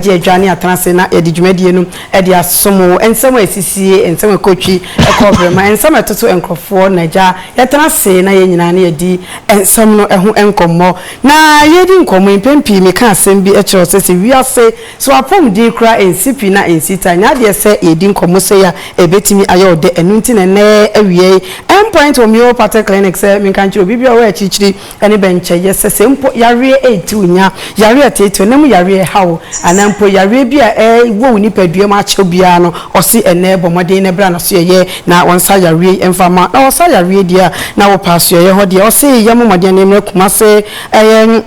agye adwane atena ase na yɛde dwumadie no de asom wo. Nsɛm a ɛsisie, nsɛm a ɛkɔtwi, ɛkɔ berɛma, nsɛm a ɛtoto nkurɔfoɔ na agya yɛtena ase na yɛn nyinaa na yɛdi nsɛm no ho nkɔmmɔ. Na yɛredi nkɔmmɔ yi, mpɛn pii meka asɛm bi kyerɛ wo sɛ, sɛ wiase so apɔmuden koraa ɛnsi pi na ɛnsi ta, nyɛ adeɛ sɛ yɛredi nkɔmmɔ sei a ɛbɛtumi ayɛ wo dɛ. Ɛno nti na ɛnnɛ awia yi, Endpoint wɔ Mayo Pathway Clinic sɛ menka nkyerɛ obi biara a ɔwɔ akyirikyiri, ne bɛnkyɛ. Yɛ sɛ sɛ mpo yareɛ reti wo, nya yareɛ a ɛteetee wo, na mu yareɛ a ɛha wo, anaa mpo yareɛ bi a ɛwɔ wo nipadua mu akyɛ wo biara no, ɔse ɛnnɛ bɔ mmɔden na bra n'asoɛeɛ na wɔnsa yareɛ yi mfa mma wo. Na wɔsa yareɛ deɛ a, na wopɛ asoɛeɛ hɔ deɛ. Ɔse yɛmmɔ mmɔden na yɛmmra Kumase. Ɛyɛ.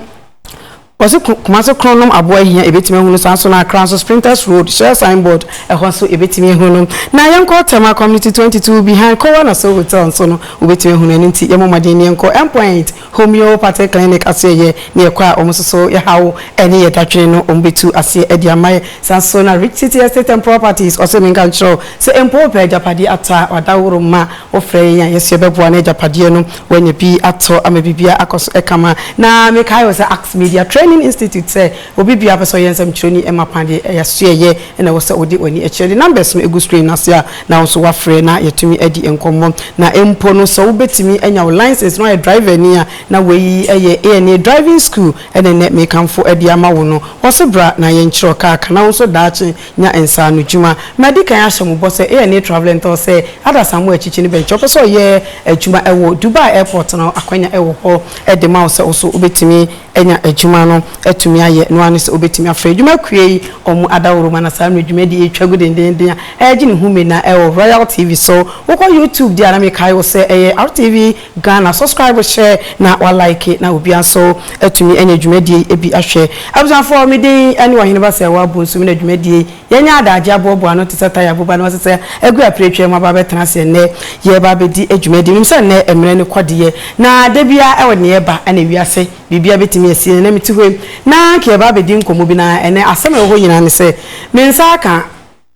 Ɔse Kumase korɔn nom aboa hia yɛbɛtumi ahu no saa nso na Accra nso Sprinters Road shell sign board ɛhɔ nso yɛbɛtumi ahu no na yɛnkɔ Tema community twenty two behind Kowa na Soul hotel nso no wobɛtumi ahu no ɛno nti yɛmmɔ mmɔden na yɛnkɔ Endpoint homeopathic clinic aseɛ yɛ na yɛkɔ a wɔn nso so yɛ haw ɛne yɛ dadwene no wɔn bɛtu aseɛ ɛde ama yɛ saa nso na Rich City Estate and Properties ɔse menka nkyerɛ wo sɛ mpo wopɛ agyapadeɛ ataa wadaworo mma wofrɛ yɛn a yɛso yɛbɛboa na agyapadeɛ no Wanya bi atɔ ama biribiara akɔ so kama. Na mekae wɔ sɛ Axe Media Training Institute sɛ obi biara a ɔpɛ sɛ ɔyɛ nsɛmtwerɛni ɛmma kwan deɛ ɛyɛ asoɛyɛ na ɛwɔ sɛ wode w'ani kyerɛ. De numbers no gu screen no ase a na wo nso woafrɛ na yɛatumi adi nkɔmmɔ. Na mpo no sɛ wobɛtumi anya wo license na woayɛ driverni a na wei yɛ ANA driving school na ɛnnɛ mekamfo de ama wo no. Wɔ so bra na yɛnkyerɛ wo car ka na wo nso daakye Nya nsaanodwuma. Madi kan ahyɛ mo bɔ sɛ yɛne Travelling Tours sɛ adasamma wɔ akyikyi no bɛnkyɛ. Wopɛ sɛ ɔyɛ adwuma wɔ Dubai Airport no, akwanya wɔ hɔ de ma wo sɛ wo so wobɛtumi anya adwuma no atumi ayɛ. Noa ne sɛ wobɛtumi afrɛ adwuma akua yi wɔn adaworoma. Na saa mmerɛ yi dwumadie yi twa gu dendeenden a ɛregye ne ho mena wɔ Royal TV so. Wokɔ YouTube deɛ a na mekae wo sɛ ɛyɛ RTV. Ghana subscribe hyɛ na wa like na obia nso atumi anya dwumadie yi bi ahwɛ abusuafoɔ me din ne Ɔhene Basayawu Abonsu me na dwumadie yi yɛanya adagye aboaboa ano te sɛ tire aboba na wasesa agu apire atwam aba abɛtena aseɛ nnɛ yɛreba abɛdi dwumadie menim sɛ nnɛ mmerɛ no kɔ deɛ na da biara ɛwɔ deɛ ɛba na ewiase biribia bɛtumi asie na na mete hɔ yi na nka yɛba abɛdi nkɔmmɔ bi na ɛnɛ asɛm a ɛwɔ hɔ nyinaa ne sɛ me nsa aka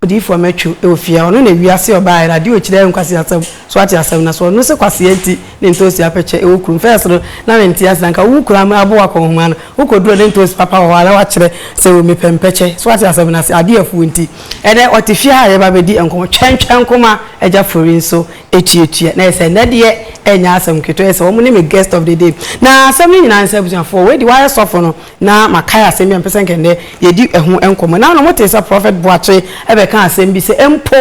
Odiyifoɔ mɛtwo wɔ fie ha, ɔno na wiase ɔbaeɛ no, adeɛ ɔkyiri ayɛ nkwaseasɛm, so woate asɛm no, so ɔno sɛ kwasea nti ne ntoosi apɛkyɛ wɔ kurom, first no na mente ase, na nka wo kura me aboa kɔ nhoma no, wo kɔ duro ne ntoosi papa wɔ hɔ a na wakyerɛ sɛ o mepɛ mpɛkyɛ, so woate asɛm no ase, adeɛ afuo nti, ɛnɛ ɔte fie ha a yɛba bɛdi nkɔmmɔ, twɛn twɛn nkoma, agya fori nso tuatua, na ɛsɛ ɛnɛ deɛ ɛnyɛ asɛm ketewa, ɛsɛ wɔn ne me guest of the day, na asɛm no nyinaa ne sɛ abusuafoɔ, wei deɛ wayɛ sɔfo no. na makae asɛm bi a mepɛ sɛ anka ɛnnɛ yɛdi ɛho nkɔmmɔ. Nna na wɔte sɛ Prɔfɛt Boakye bɛka asɛm bi sɛ mpo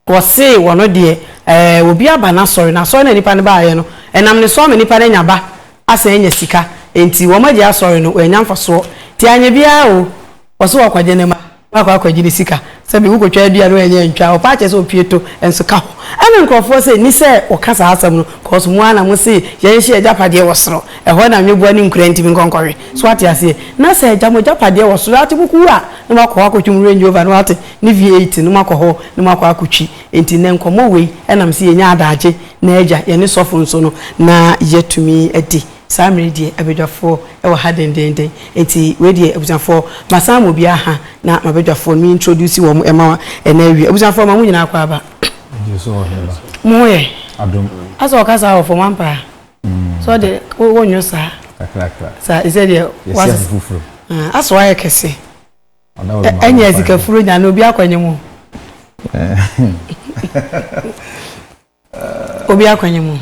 wɔsee wɔ no deɛ ɛɛ obi aba n'asɔre, na asɔre no a nipa no baeɛ no, ɛnam ne so ama nipa no anya ba asan anya sika, enti wɔagyae asɔre no, wɔannya mfasoɔ. Nti anyɛ biara o. Ɔse wakɔgye ne mma na wakɔ akɔgye ne sika sɛ bi wokɔtwa adua no ɛnyɛ ntwa ɔpaa kyerɛ sɛ ɔpie to nso ka ho ɛna nkorɔfoɔ se ni sɛ ɔka saa asɛm no cos mo ara na mo se yɛnhye agyapadeɛ wɔ soro ɛhɔ na nweboa ne nkura ntimi nkɔ nkɔwe so wate aseɛ na sɛ agya mo agyapadeɛ wɔ soro ate mo ko wu a na mo akɔ hɔ akɔtwe mo Range Rover no wate ne V8 no mo akɔ hɔ na mo akɔ akɔtwi nti nnɛ nkɔmmɔ wei ɛnam se yɛnya adaagye na agya yɛne sɔfo nso no na yɛatumi adi Saa mmere yi deɛ abadwafoɔ wɔ ha dendeenden, enti wei deɛ abusuafoɔ masan ama obiara ha na m'abadwafoɔ no me introduce wɔn ma ɛna awie. Abusuafoɔ ma mo nyinaa kɔ aba. Gyes wɔ he ba? Mo ho yɛ? Adom. Asɛ ɔka saa wɔ fam ampa a? Mm. So ɔde wo wo nyo saa. Kakrakra. Saa ɛsɛ deɛ. Yɛsi afu foforo. Ah, asɛ wayɛ kɛse. Ɔda wɔ ma. Ɛnyɛ sikafuro nya na obi akɔnye mo. Eh. Obi akwanya mu.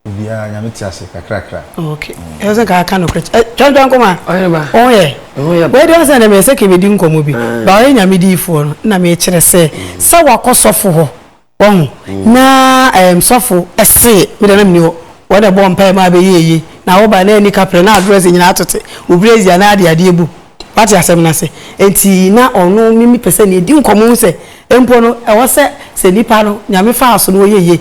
Obiara nyame te ase kakrakra. Okay. Ɛsɛ sɛ kaa ka no korɛ. Twɛn twɛn kɔma. Ɔyɛ ba. Ɔho yɛ. Ɛho yɛ ba. Wei deɛ sɛ na mɛsɛ kɛ bɛdi nkɔmmɔ bi. Ah. Ba ɔyɛ nyame diifoɔ no na mekyerɛ sɛ mm. sɛ wakɔ sɔfo hɔ wɔho mm. na ɛm eh, sɔfo ɛse medɛ na meni hɔ wɔde bɔ mpae ma abɛyɛ eye na woba na ani kaprɛ na adrɛs nyinaa atote wo brɛzi anaa ade adeɛ bu Wate asɛm no ase? Enti na ɔno Mimi pɛ sɛ ne yɛdi nkɔmmɔ hu sɛ mpo no ɛwɔ sɛ sɛ nnipa no Nyame faa so na wɔyɛ yie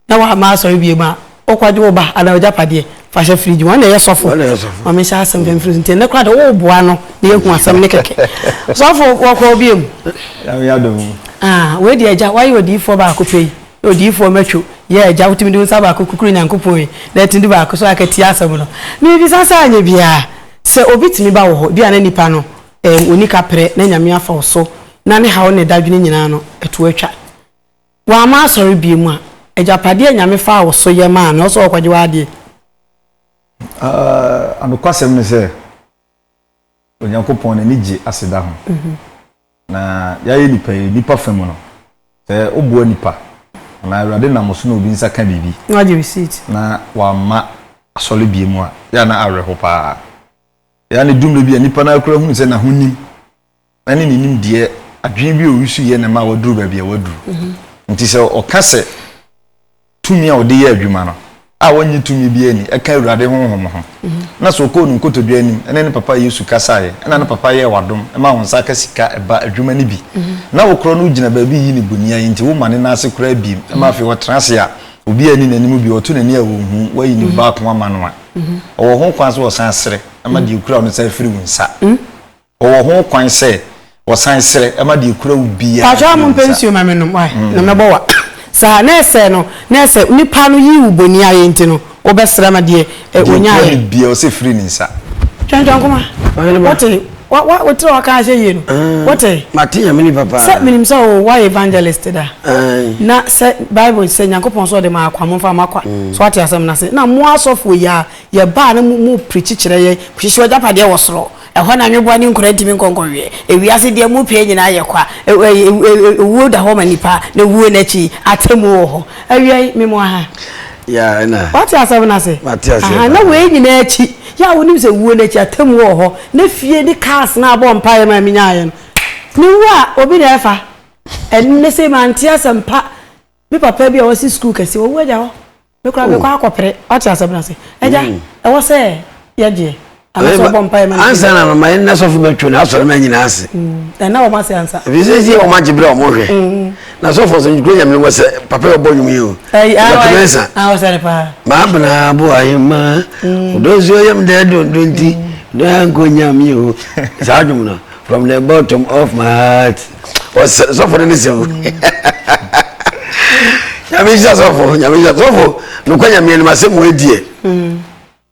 na wɔamma asɔre biom a, wokɔgye wo ba anaa w'agyapadeɛ fa hyɛ fridge mu. Ɔno na ɛyɛ sɔfo. Ma menhyɛ asɛm fam mfiri so. Nti ɛnnɛ koraa deɛ woreboa no na yɛahu asɛm no kɛkɛ. Sɔfo wɔkɔɔ biom. Nyame adom. Ah, wei deɛ agya, woayɛ odiyifoɔ baako pɛ yi. Odiyifoɔ matwo. Yeah, agya, wotumi de wo nsa baako kukuru Nyankopɔn yi na atumi de baako so aka tie asɛm no. Mebisa sɛ anyɛ biara. Sɛ obi tumi ba wo hɔ, ebia na nipa no ɛɛm onni kaprɛ na Nyame afa wo so na ne haw ne dadwene nyinaa no ɛto atwa. W'amma asɔre biom a, agyapadeɛ a Nyame faa wo so yɛ maa no ɛwɔ sɛ ɔɔkɔgye w'adeɛ. Aah nokwasɛm ne sɛ Onyankopɔn n'ani gye aseda ho. Na yɛayɛ nnipa yi, nnipa fa mu no, sɛ woboa nnipa, anaa Awurade nam wo so na obi nsa ka biribi, Na wagye receipt. na wamma asɔre biom a, yɛ a na awerɛhow paa. Ɛyɛ a na edu mmere bi a nnipa no ara koraa hu sɛ n'ahonim ne ne nimdeɛ, adwene bi a ɔresu yɛ na ɛma waduru baabi a waduru. Enti sɛ ɔka sɛ. tumi a ɔde yɛ adwuma no a wɔnye tumi bi ani ɛka awurade honhom ho na sɛ ɔkɔɔ no nkotodwe anim ɛne ne papa yesu kasaeɛ ɛna ne papa yɛɛ wadom ɛma wɔn nsa aka sika ɛba adwuma no bi na wokorɔ no wogyina baabi yi ne bonia yi nti woma ne nan ase koraa biem ɛma afei ɔtena ase a obi ani n'anim bi ɔto n'ani a wɔhu wayi ne baako ama no a ɔwɔ ho kwan sɛ ɔsan sere ɛma deɛ okura no san firi wo nsa Wɔwɔ ho kwan sɛ wɔsan srɛ ma deɛ ɛkura wo biara firi wo nsa. Paatwa mompɛ nsuo ma me nom wai na mɛbɔ wa saa na ɛsɛ no na ɛsɛ nipa no yii wo boni ayɛ nti no wo bɛ srɛ ma deɛ wo nya ayɛ. Deɛ ɛkura me biara ɔsɛ firi ne nsa. Twɛntwɛn koma wote wa wa wo tiri ɔka ahyɛ yie no wote. Mate nyame nipa paa. Sɛ menim sɛ o wa evangelist da na sɛ bible sɛ nyankopɔn sɛ ɔde ma akwa mo nfa ma kwa so wate asɛm na se na mo asɔfoɔ yi a yɛ baa na mo mo preach kyerɛ yɛ hyehyɛ wagyapadeɛ wɔ soro Ɛhɔ na nweboa ne nkura ntumi nkɔ nkɔweɛ. Ewiase deɛ mu pee nyinaa yɛ kwa. Ewuo da hɔ ma nipa, na wuo no akyi, atemmuo wɔ hɔ. Awia yi, me moa ha. Yeah, ɛna. Wate asɛm no ase? Mate aseɛ paa. Aha, na wei nyinaa akyi, yɛ a wonim sɛ wuo no akyi, atemmuo wɔ hɔ, na fie ne cars no a wobɔɔ mpaeɛ maa menyaeɛ no, me wu a, obi na ɛfa. Ɛnnɛ sei mante asɛmpa, me papa bi a wasi sukuu kɛseɛ, wawu agya hɔ. Me kura mi kɔ akɔ pere ɔte asɛm na se ɛgya mm. ɛwɔ sɛ yɛ gyeɛ anasɛ ɔbɔ mpa yɛ ma no ansa na mama yɛ nna sɔfo ma twɛ na asɔre ma nyina ase mm. ɛna wɔn ase ansa ebi sɛ sie wɔn agye berɛ wɔn hwɛ mm. na sɔfo sɛ nkuro nyame wɔ sɛ papa yɛ ɔbɔ nwom yi o yɛpɛmɛ nsa maa bena bo ayɛ ma ɔdɔ nsuo yɛm dɛ dondo nti dɔ yɛ nkɔ nyame o saa dwom no From the bottom of my heart. Ɔsɛ sɔfo no ne sɛ o. Nyame nhyira sɔfo, nyame nhyira sɔfo. Nokwa nyame anim asɛm mu adie.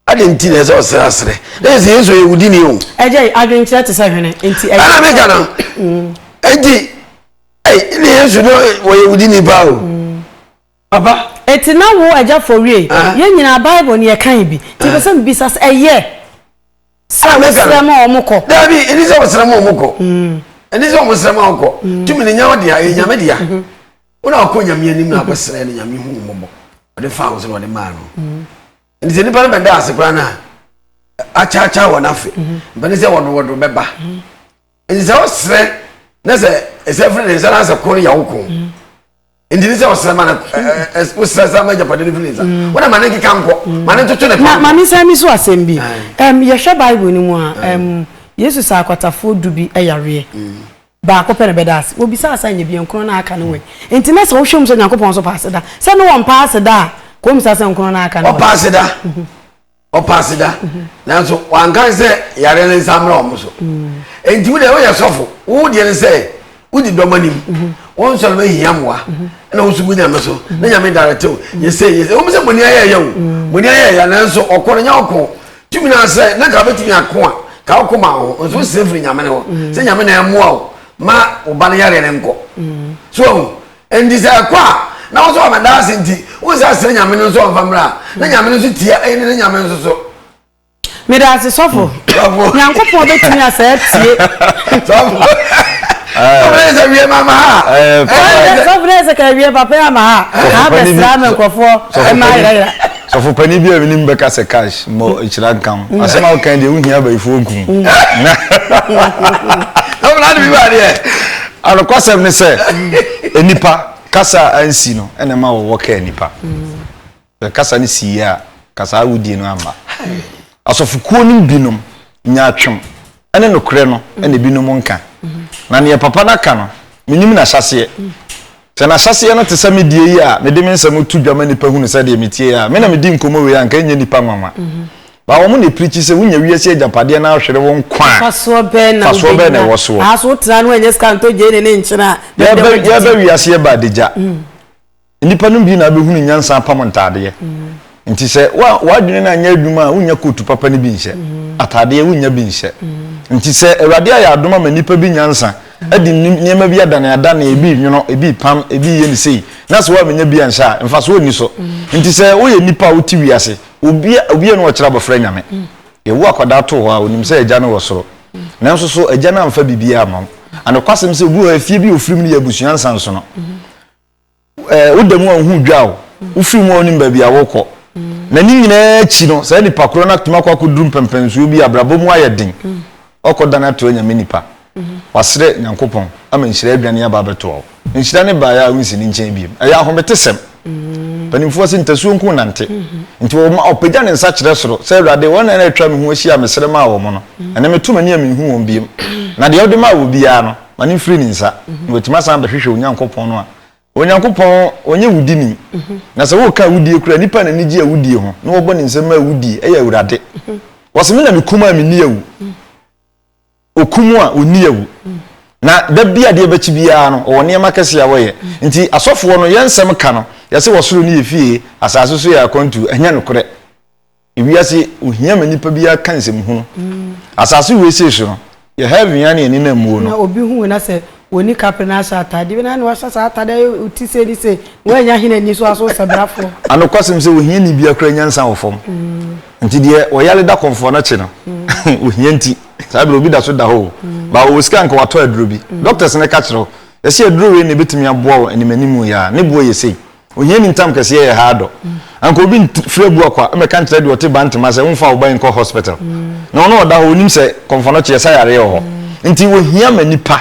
Ade nti na ɛsɛ ɔsrɛ asrɛ. Na yɛ sɛ Yesu yɛ wudi ni o. Ɛgya yi adwenkyerɛ te sɛ hwene nti ɛyɛ. Ana meka no. Nti ɛyi ne Yesu no wɔyɛ wudi ni paa o. Aba. Enti na wo agya fɔ wiei. Yɛn nyinaa Bible no yɛkae bi. Nti mepɛ sɛ mebisa sɛ ɛyɛ sɛ wosrɛ ma wɔkɔ? Dabi, ɛnni sɛ wosrɛ ma wɔkɔ. Ɛnni sɛ wɔsrɛ ma wɔkɔ. Tumi no nyɛ wo dea, ɛyɛ Nyame dea. Wo na wokɔ Nyame anim na akɔsrɛ no, Nyame hu wo mmɔbɔ. Ɔde faa wo so na ɔde maa no. Ɛnti sɛ nnipa no bɛda ase koraa no a, akyaakyɛ wɔn afe mpɛne sɛ wɔdowɔdo bɛba nti sɛ wosrɛ na sɛ ɛsɛ firi ne nsa na sɛ ko no yɛ wo ko nti ne sɛ ɔsrɛ ma no wosrɛ sɛ ma agyapade no firi ne nsa mm. wona ma ne nkeka nkɔ mm. ma ne ntoto ne pa ma mensan mi so asɛm bi yɛhwɛ bible no mu a yesu saa akwatafoɔ du bi yareɛ mm. baako pɛ na bɛda ase wɔbisaa sa nyɛ biankorɔ no aka no wɛ nti na sɛ wohwɛ mu sɛ nyankopɔn so paa aseda sɛ ne wɔmpaa aseda a kɔm sa sɛ nkorɔ no aka no ɔpaa aseda mhm. ɔpaase da nanso wankan sɛ yare no nsa mmra wɔn so nti wo deɛ woyɛ sɔfo wo deɛ no sɛ wodi dɔm anim wo nsɔre no hia mmoa ɛna wo nso gu nyame so na nyame darete wo yɛsɛ yɛsɛ wɔn sɛ bɔne ayɛ yɛ o bɔne ayɛ yɛ nanso ɔkɔ no nyɛ ɔkɔ tumi na asɛ na ka bɛtumi ako a ka ɔkɔ ma ho nso sɛ firi nyame no hɔ sɛ nyame na ɛmoa wo ma wo ba no yare no nkɔ so Enti sɛ ɛkɔ a, na wo sɛ ɔbɛda ase nti, wo nsa srɛ Nyame no nso ɔmfa mmra a, na Nyame no nso tia ɛne ne Nyame nso so. Meda ase sɔfo. Sɔfo. Nyankopɔn bɛtumi asɛ atie. Sɔfo. Sɔfo ne sɛ wie ma ma ha. Sɔfo ne sɛ ka wie papa ya ma ha. Ka bɛsra me nkɔfoɔ ɛma ayerayera. Sɔfo panin bi a mi nim bɛka sɛ cash mmɔ mm. ekyira nka ho. Mm. Asɛm a wokan deɛ wohia abayifoɔ nku. Mm. Sɔfo na adi bi ba deɛ. Anokwasɛm ne sɛ nipa kasa ansi no ɛna ma wɔwɔ kaa nipa. Kasa no si yie a kasa awudie no amba. Asɔfokuo no binom nya atwem ne nokorɛ no na ebinom nka. Na deɛ papa no aka no, menim n'ahyɛaseɛ. Sɛ n'ahyɛaseɛ no te sɛ me deɛ yi a mede me nsɛm to dwa ma nnipa hunu sɛ deɛ metie a, me na medi nkɔmmɔ wei a, anka ɛrenyɛ nnipa nwanwa. But wɔn na ɛpirikyi sɛ wonya wiase agyapadeɛ na ahwere wo nkwa a, mfasoɔ bɛn na ɛwɔ soɔ? Aaso wotena no ɛnyɛ sika ntɔ gyeene ne nkyene a, yɛba wiase yɛba adagya. Nnipa no bi na abɛhunu nyansa apam ntaadeɛ. Nti sɛ w'adwene no anyɛ adwuma a, wonnya kootu papa no bi nhyɛ. Ataadeɛ, wonnya bi nhyɛ. Nti sɛ Awurade ayɛ adom ama nnipa bi nyansa, de nneɛma bi adaneadane, ebi renwono, ebi repam, ebi reyɛ no sei, na sɛ woamenya bi anhyɛ a, mfasoɔ nni so. Nti sɛ woyɛ nnipa a wote wiase, obiara na ɔkyerɛ abɔfra Nyame. Yɛwo akwadaa to hɔ a, ɔnim sɛ agya no wɔ soro. Nanso so agya no amfa biribiara amma wo? Anokwasɛm sɛ obi wɔ hɔ a, efie bi a ɔfiri mu no yɛ abusua nsansono. ɛɛ woda mu a wohu dwa o wofiri mu a wonim baabi a wokɔ na ne nyinaa akyi no saa nipa korɔ no atumi akɔ akɔduru mpɛmpɛnsuo bi abrabɔ mu ayɛ den ɔkɔ dan ato anyame nipa wasrɛ nyankopɔn ama nhyira adwane aba abɛtoa wo nhyira ne baeɛ a wonsi ne nkyɛn biem ɛyɛ ahomete sɛm mpanimfoɔ se ntasuo nko nante nti ɔpagya ne nsa kyerɛ soro sɛ awurade wɔn na ɛtwa me ho ahyia mesrɛ maa wɔn no ɛne meto m'ani a menhu wɔn biem na deɛ wode maa wɔ biara no ma no mfiri ne nsa na watumi asan abɛhwehwɛ onyankopɔn no a onyankopɔn ɔnyɛ wudini na sɛ woka awudie kura nipa na anigye awudie ho na wɔbɔ ne nsɛm ma awudie ɛyɛ awurade wɔse me na mekum a menni awu okum a ɔnni awu na da bi adeɛ bɛkyi biara no ɔwɔ nneɛma kɛse a wɔyɛ nti asɔfoɔ no yɛ nsɛm ka no yɛse wɔsoro no yɛ fie asase so yɛ akwantu ɛnyɛ nokorɛ Ewiase yi, ohia ma nipa biara ka nsɛm hunu. Asase wesee so no, yɛ heaven yi ara na yɛn ani nam muo no. Na obi hu wo na sɛ wɔnni kapre na ahyɛ atadeɛ bi na na wahyɛ saa atadeɛ ayɛ wo ti sei ne sei na woannya hene ani so a so sɛ brafoɔ. A Nokwasɛm sɛ ohiani biara kura nyansa wɔ fam. Nti deɛ ɔyare da kɔmfoɔ no akye no, ohia nti, saa berɛ obi da so da hɔ o, baa ɔwɔ sika a anka watɔ aduro bi. Doctors no ka kyerɛ wo, yɛse aduro wei na ɛbɛtumi aboa wo animanimu yi a, ne boɔ yɛ sei. Ohiani ntam kɛseɛ yɛ haa dɔ. Anka obi nfiri abua kwa mmɛka nkyerɛ deɛ ɔte Bantama sɛ womfa wo ba yi nkɔ hospital. Na ɔno ɔda hɔ, ɔnim sɛ kɔmfɔnɔkyeɛ, sa yareɛ wɔ hɔ. Nti wɔhia ma nnipa.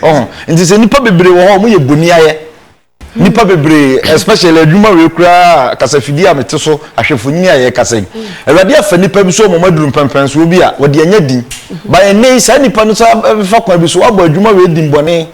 Ɔho? Nti sɛ nnipa bebree wɔ hɔ a wɔyɛ boniayɛ. Nnipa bebree, especially adwuma wei koraa a, kasafidie a mete so, ahwɛfonyini a yɛrekasa yi. Awurade afa nnipa bi so ama wɔaduru mpɛnpɛnsoɔ bi a, wɔde anya din. But ɛnnɛ yi, saa nnipa no san bɛfa kwan bi so abɔ adwuma wei din bɔne.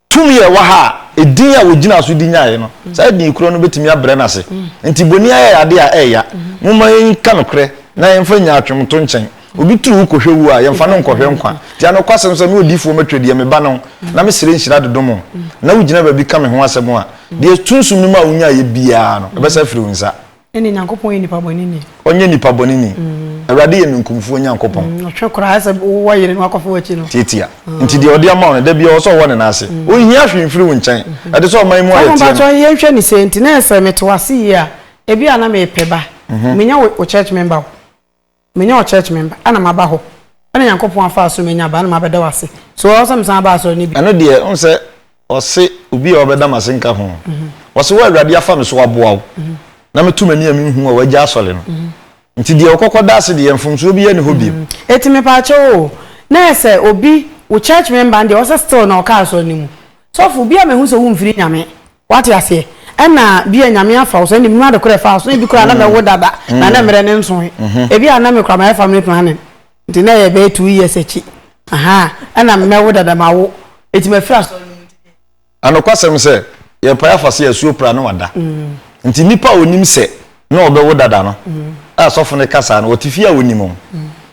Tumi a ɛwɔ ha a edin a wɔgyinaa so de nyaeɛ no, saa edin korɔ no bɛtumi abrɛ no ase. Enti boni ayɛ adeɛ a ɛreya. Momma yɛnka nokorɛ na yɛmfa nyaatwomto nkyɛn. Obi turu kɔhwɛ wuo a, yɛmfa no nkɔhwɛ nkwa. Enti anokwasɛm sɛ, me odiyifoɔ mɛtwerɛ deɛ meba no ho, na mesrɛ nhyira de dom wo, na wogyina baabi ka me ho asɛm a, deɛ sunsum no maa wonyaeɛ biara no, ɛbɛsa afiri wo nsa. Ɛne Nyankopɔn yɛ nipa bɔne ni. Ɔnyɛ nipa bɔne ni. Awurade yɛ ninkumfoɔ Nyankopɔn. Ɔtwe kora, ayɛ sɛ wowɔ yere na wakɔfa w'akyi no. Tiatia. Nti deɛ ɔde ama wo no, da biara ɔwɔ sɛ ɔwɔ ne nan ase. Ɔnhia hwee mfiri wo nkyɛn. Ɛde sɛ ɔman mu ayɛ teɛ no. Papa mpakyɛ yɛn nhwɛ no sei nti na sɛ mete w'ase yie a, ebi a na mepɛ ba. Menya wo church member o. Menyɛ ɔchurch member ɛna maba hɔ ɛna Nyankopɔn afa so manya aba ɛna mabɛda wo ase so ɔwɔ sɛ mesan ba asɔre no bio. Ɛno deɛ wohu sɛ ɔse obi a ɔbɛda m'ase nka ho ɔse wo a Awurade afa me so aboa wo na meto m'ani a menhu a wagya asɔre no nti deɛ ɔkɔkɔ da ase deɛ mfomsoɔ biara nni hɔ bio. Eti mepaakyɛw oo na ɛsɛ obi wo church member no deɛ ɔwɔ sɛ still na ɔka asɔre no mu sɔfo bi a mehu sɛ womfiri Nyame Wate aseɛ? Ɛna bia Nyame afa wo so, ɛna mnim ade korɔ ɛfaa wo so, na ebi koraa na mɛwo dada, na na mmerɛ no nsoe. Ebi a na me koraa mayɛ family planning, nti na ɛyɛ bɛyɛ two years akyi, ahaa, ɛna mɛwo dada mawo, nti mafiri asɔre no mu. Anokwasɛm sɛ, yɛpae afa sɛ asuo pra na wada. Nti nipa a ɔnim sɛ na ɔbɛwo dada no a sɔfo no ka saa no ɔte fie a ɔnim ho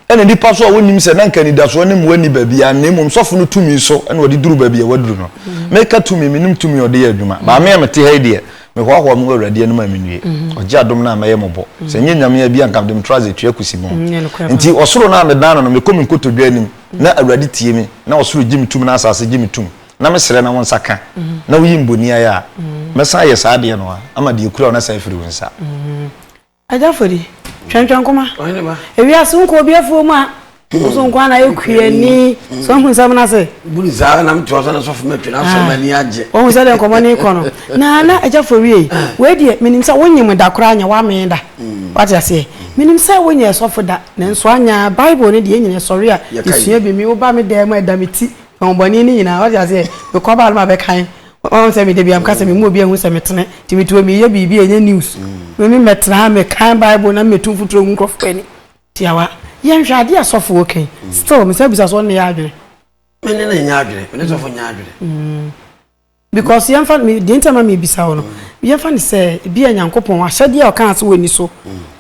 ɛna nipa so a wɔnim sɛ na nka anidasoɔ ne mmoa ni baabi a na mmom sɔfo no tumi so ɛna ɔde duru baabi a waduru no mhm. meka tumi menim tumi ɔde yɛ adwuma baame a mete ha yi deɛ mehoahoa mu awurade anim a menwie mhm. ɔgye adom no a mɛyɛ mɔbɔ mhm. sɛ nyɛ nyame a bi anka de metra ase tua kusi mu nti ɔsoro no a medan no no mekɔ me nkotodwa anim na awurade tie me na ɔsoro gye me tum na asase gye me tum na me srɛ na wo nsa ka na woyi mboni ayɛ a, mɛsan ayɛ saa adeɛ no a, ama deɛ ɛkura wo no asan afiri wo nsa. Agya Fodi, twɛntwɛn koma. Ewiase wo nkɔ obi afuo mu a, wo so nko na ɛkua ani. So ahu nsɛm no ase? Buni saa na metewa sɛ na sɔfo matwi na asɔre m'ani agye. Wɔhu sɛ deɛ nkɔmmɔ no rekɔ no. Na na agya Fodi ei, wei deɛ menim sɛ wonyem da koraa nyɛ wamee da. Wate aseɛ? Menim sɛ wonyɛɛ sɔfo da, nanso anya Bible no deɛ yɛn nyinaa yɛsɔre a yɛsua bi. Me woba me dan mu a ɛda me ti Honhobɔne no nyina ɔtse aseɛ, mekɔ baa no ma bɛkan, ɔhu sɛ me da bia meka sɛ mema obi ahu sɛ metene, nti metuo meyɛ biribi a ɛnyɛ news. Meme mɛtena ha mekan bible na metu mfuturo ngu nkurɔfoɔ anim. Tiawa, Yɛnhwɛ adeɛ a sɔfo wɔ kɛn, still mesan bisa so ɔno ne yɛ adwene? Me ne no nyɛ adwene, me ne sɔfo nyɛ adwene. Because yɛmfa no, me, deɛ nti a ma mebisa wo no, yɛmfa no sɛ ebi a Nyankopɔn ahyɛdeɛ a ɔkaa sɛ wɔnni so,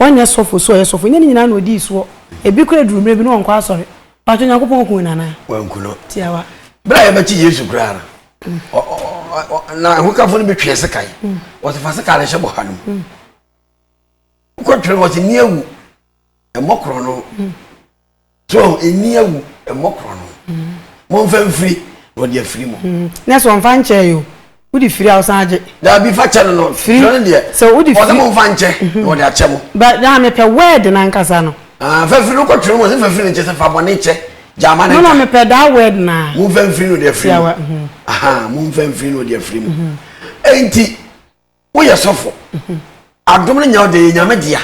wɔnyɛ sɔfo so a ɔyɛ sɔfo, ɛnyɛ ne nyinaa na ɔdii soɔ. Ebi koraa duru mmerɛ bi na ɔnkɔ asɔre. Paatwɔ Nyankopɔn kuu no anaa? Wanku no. Tiawa. Berɛ a yɛbɛkye Yesu koraa no, ɔ, ɔ, ɔ, ɔ, na ahokafo no bi twee sekan. Wɔsi fa sekan no hyɛ bɔha no mu. Wokɔtwere no, wɔsi nni awu. Mmɔ korɔ no. so ɛnni awu mmɔ korɔno momfa mfiri na ɔde afiri mu hmm. na sɛ ɔmfa nkyɛ yo wode firi a wosan agye daabi fa kyɛ no no firi no deɛ sɛ wode firi momfa nkyɛ na mhm. ɔde akyɛ mo na mepɛ word no ankasa no ah, fa firi no kɔtwerɛ mu sɛ fa firi no kyɛ sɛ fa bɔne kyɛ gyama no na mepɛ daa word no a momfa mfiri no de afiri mu mhm. aha momfa mfiri no de afiri mu mhm. enti woyɛ sɔfo adom no nya wo deɛ yɛ nyame dea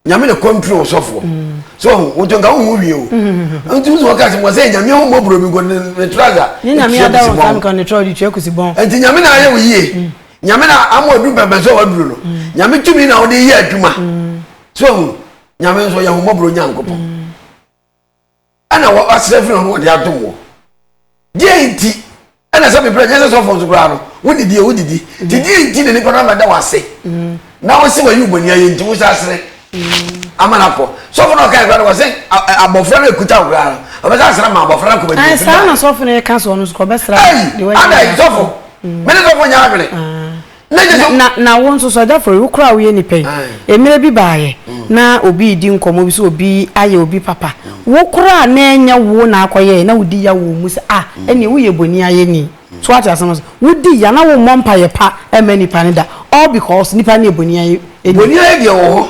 nyame na kɔntro wo sɔfoɔ so woto nka wohu wie o nti wo sɛ wɔka sɛ wɔsɛ nyame ho mmɔborɔ bi nkɔ ne trasa nti nyame na ayɛ wo yie nyame na ama ɔduru bɛbɛ sɛ waduru no nyame tumi na wode yɛ adwuma so hu nyame nso yɛ ho mmɔborɔ nyankopɔn ɛna wɔasrɛ afiri no na wɔde adom wɔ deɛ nti ɛna sɛ meprɛ nyɛ sɛ sɔfoɔ nso koraa no wone deɛ wodidi nti deɛ nti na nipa no amɛda wo ase na wo se wayi wo bɔni ayɛ nti wo sɛ asere ama no akɔ sɔfo no ɔkae koraa no wɔse abɔfra no ɛkuta wo koraa no ɔbɛsɛ asra ma abɔfra no akɔbɛdi ah, saa na sɔfo no ɛka soɔ no so kɔbɛsra adai sɔfo mene sɔfo nyɛ adwene Na, na, na wo nso, Sir Jaffery, wo koraa a woyɛ nipa yi, mmerɛ bi baeɛ na obi redi nkɔmmɔ bi sɛ obi ayɛ obi papa, wo koraa a na ɛnyɛ wo na akɔyɛɛ, na wodi ya wɔ wo mu sɛ, Ah, ɛnneɛ woyɛ boni ayɛni. So woate asɛm no ase? Wodi ya na wommɔ mpaeɛ pa mma nipa no da, all because nipa no yɛ boni ayɛni. Boni ayɛ deɛ ɛwɔ hɔ.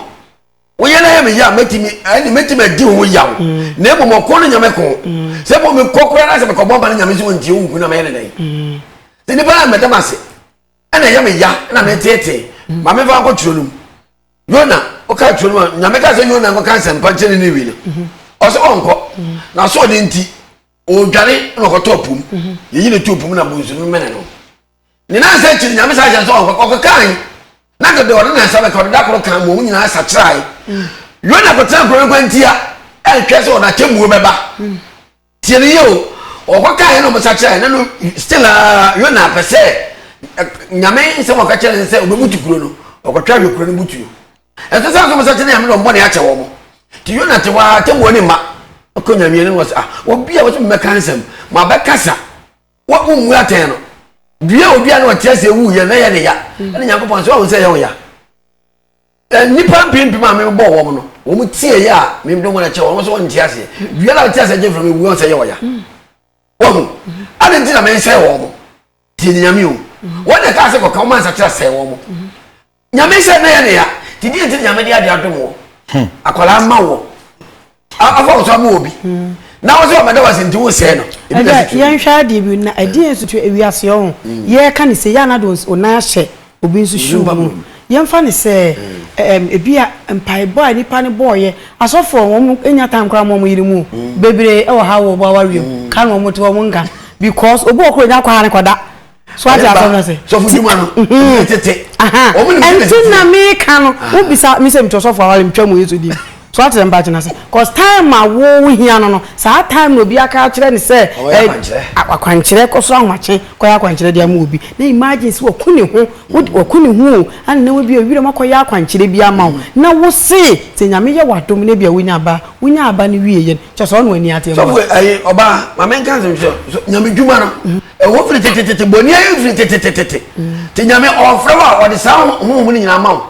Woyɛ na yɛ me ya mɛtumi ɛne mɛtumi adi ho yaw mm. na mmom ɔko no nyame ko mm. sɛ bɔ mekɔ koraa na sɛ mekɔbɔ mpa no nyame sɛ ɔntie wo nku na mɛyɛ ne dɛn mm. sɛ nipa a mɛdam ase ɛna ɛyɛ me ya na meteetee ma mefa nkɔ turo no mu yona woka turo no mu nyame ka sɛ yona nkɔka nsɛmpa nkyɛ ne ne wi no mhm. ɔsɛ ɔnkɔ na so ɔde nti ɔdwane na ɔkɔtɔ pum mhm. yɛyi ne too pum na bonsu no mene no ne nansa akyiri nyame saa hyɛ sɛ ɔnkɔkɔ kɔkae na dede ɔde nansa bɛka ɔde da koro kan mu ɔmo nyinaa sakyerae yona kɔtena nkuro no kwantia ɛnhwɛ sɛ ɔde atemmuo bɛba tie no yie o ɔkɔkae na ɔmo sakyerae na no still a yona pɛ sɛ nyame nsɛm ɔka kyerɛ ne sɛ ɔbɛbutu kuro no ɔkɔtwa hwɛ kuro no butuo ɛsɛ sɛ ɔmo sakyere nyame na ɔmo bɔne akyɛ wɔn ti yona te hɔ a atemmuo ne mma ɔkɔ nyame ne wɔ sɛ ah obi a wɔsɛ mmɛka nsɛm ma bɛkasa wommu atɛn no dua odua no ɔteɛ sɛ ɛwu yɛ na ɛyɛ ne ya mm. ɛne nyankopɔn sɛ wahu sɛ ɛyɛ wo ya nnipa mpempem a mebɔ wɔm no wɔm tie yɛ a mede wɔn akyɛ wɔn so wɔnte aseɛ dua no a ɔte aseɛ gye mfrɛ mewu sɛ ɛyɛ ɔya mm. wahu mm. ade nti na mesɛe wɔn mo tie nyame o wɔn na ɛka sɛ kɔka wɔn ansakyera sɛe wɔn mo nyame sɛ na yɛ ne ya nti deɛ nti nyame de ade adom wɔ hmm. akwadaa ma wɔ afa wo so ama obi hmm. na wo sɛ ɔmɛda wase nti wosɛe no yɛnhwɛ adeɛ bi na ɛdeɛ nso to awiase ɔ ho hmm. yɛka ne sɛ yɛ anade ɔnan ahyɛ obi nso hyiw mu yɛmfa ne sɛ ebi a mpaebɔ a nipa no bɔɔyɛ asɔfoɔ wɔn nya tan koraa ma wɔn yere mu bebree wɔ ha wɔ wɔn awareɛ mu ka na wɔn te wɔn nka because obi wɔ koro nya kɔ ha ne kɔ da. so ati asɛm na se sɔfo dwuma no mhm. tete ɔmo ni mi ti na mi ka no wo bisa mi sɛ mi tɔ sɔfo awari mi twɛ mu yesu di so ati sɛm paati na se cause time a wo hia no no saa time na obi aka akyerɛ ne sɛ akwankyerɛ kɔ so ahomakye kɔ yɛ akwankyerɛ di ama obi na imagine sɛ wɔku ne ho wɔku ne ho o ana na obi ewira mu akɔ yɛ akwankyerɛ bi ama wo na wo se sɛ nyame yɛ wadom na bi a wonya aba wonya aba ne wie yɛ kyɛ sɛ ɔno ani ate mu sɔfo ayi ɔbaa maame nka nsɛm sɛ nyame dwuma no mhm. ɛwɔ firi tetetete bɔne ayɛ firi tetetete mhm. te nyame ɔfrɛ wo a ɔde saa honhom no nyinaa ma wo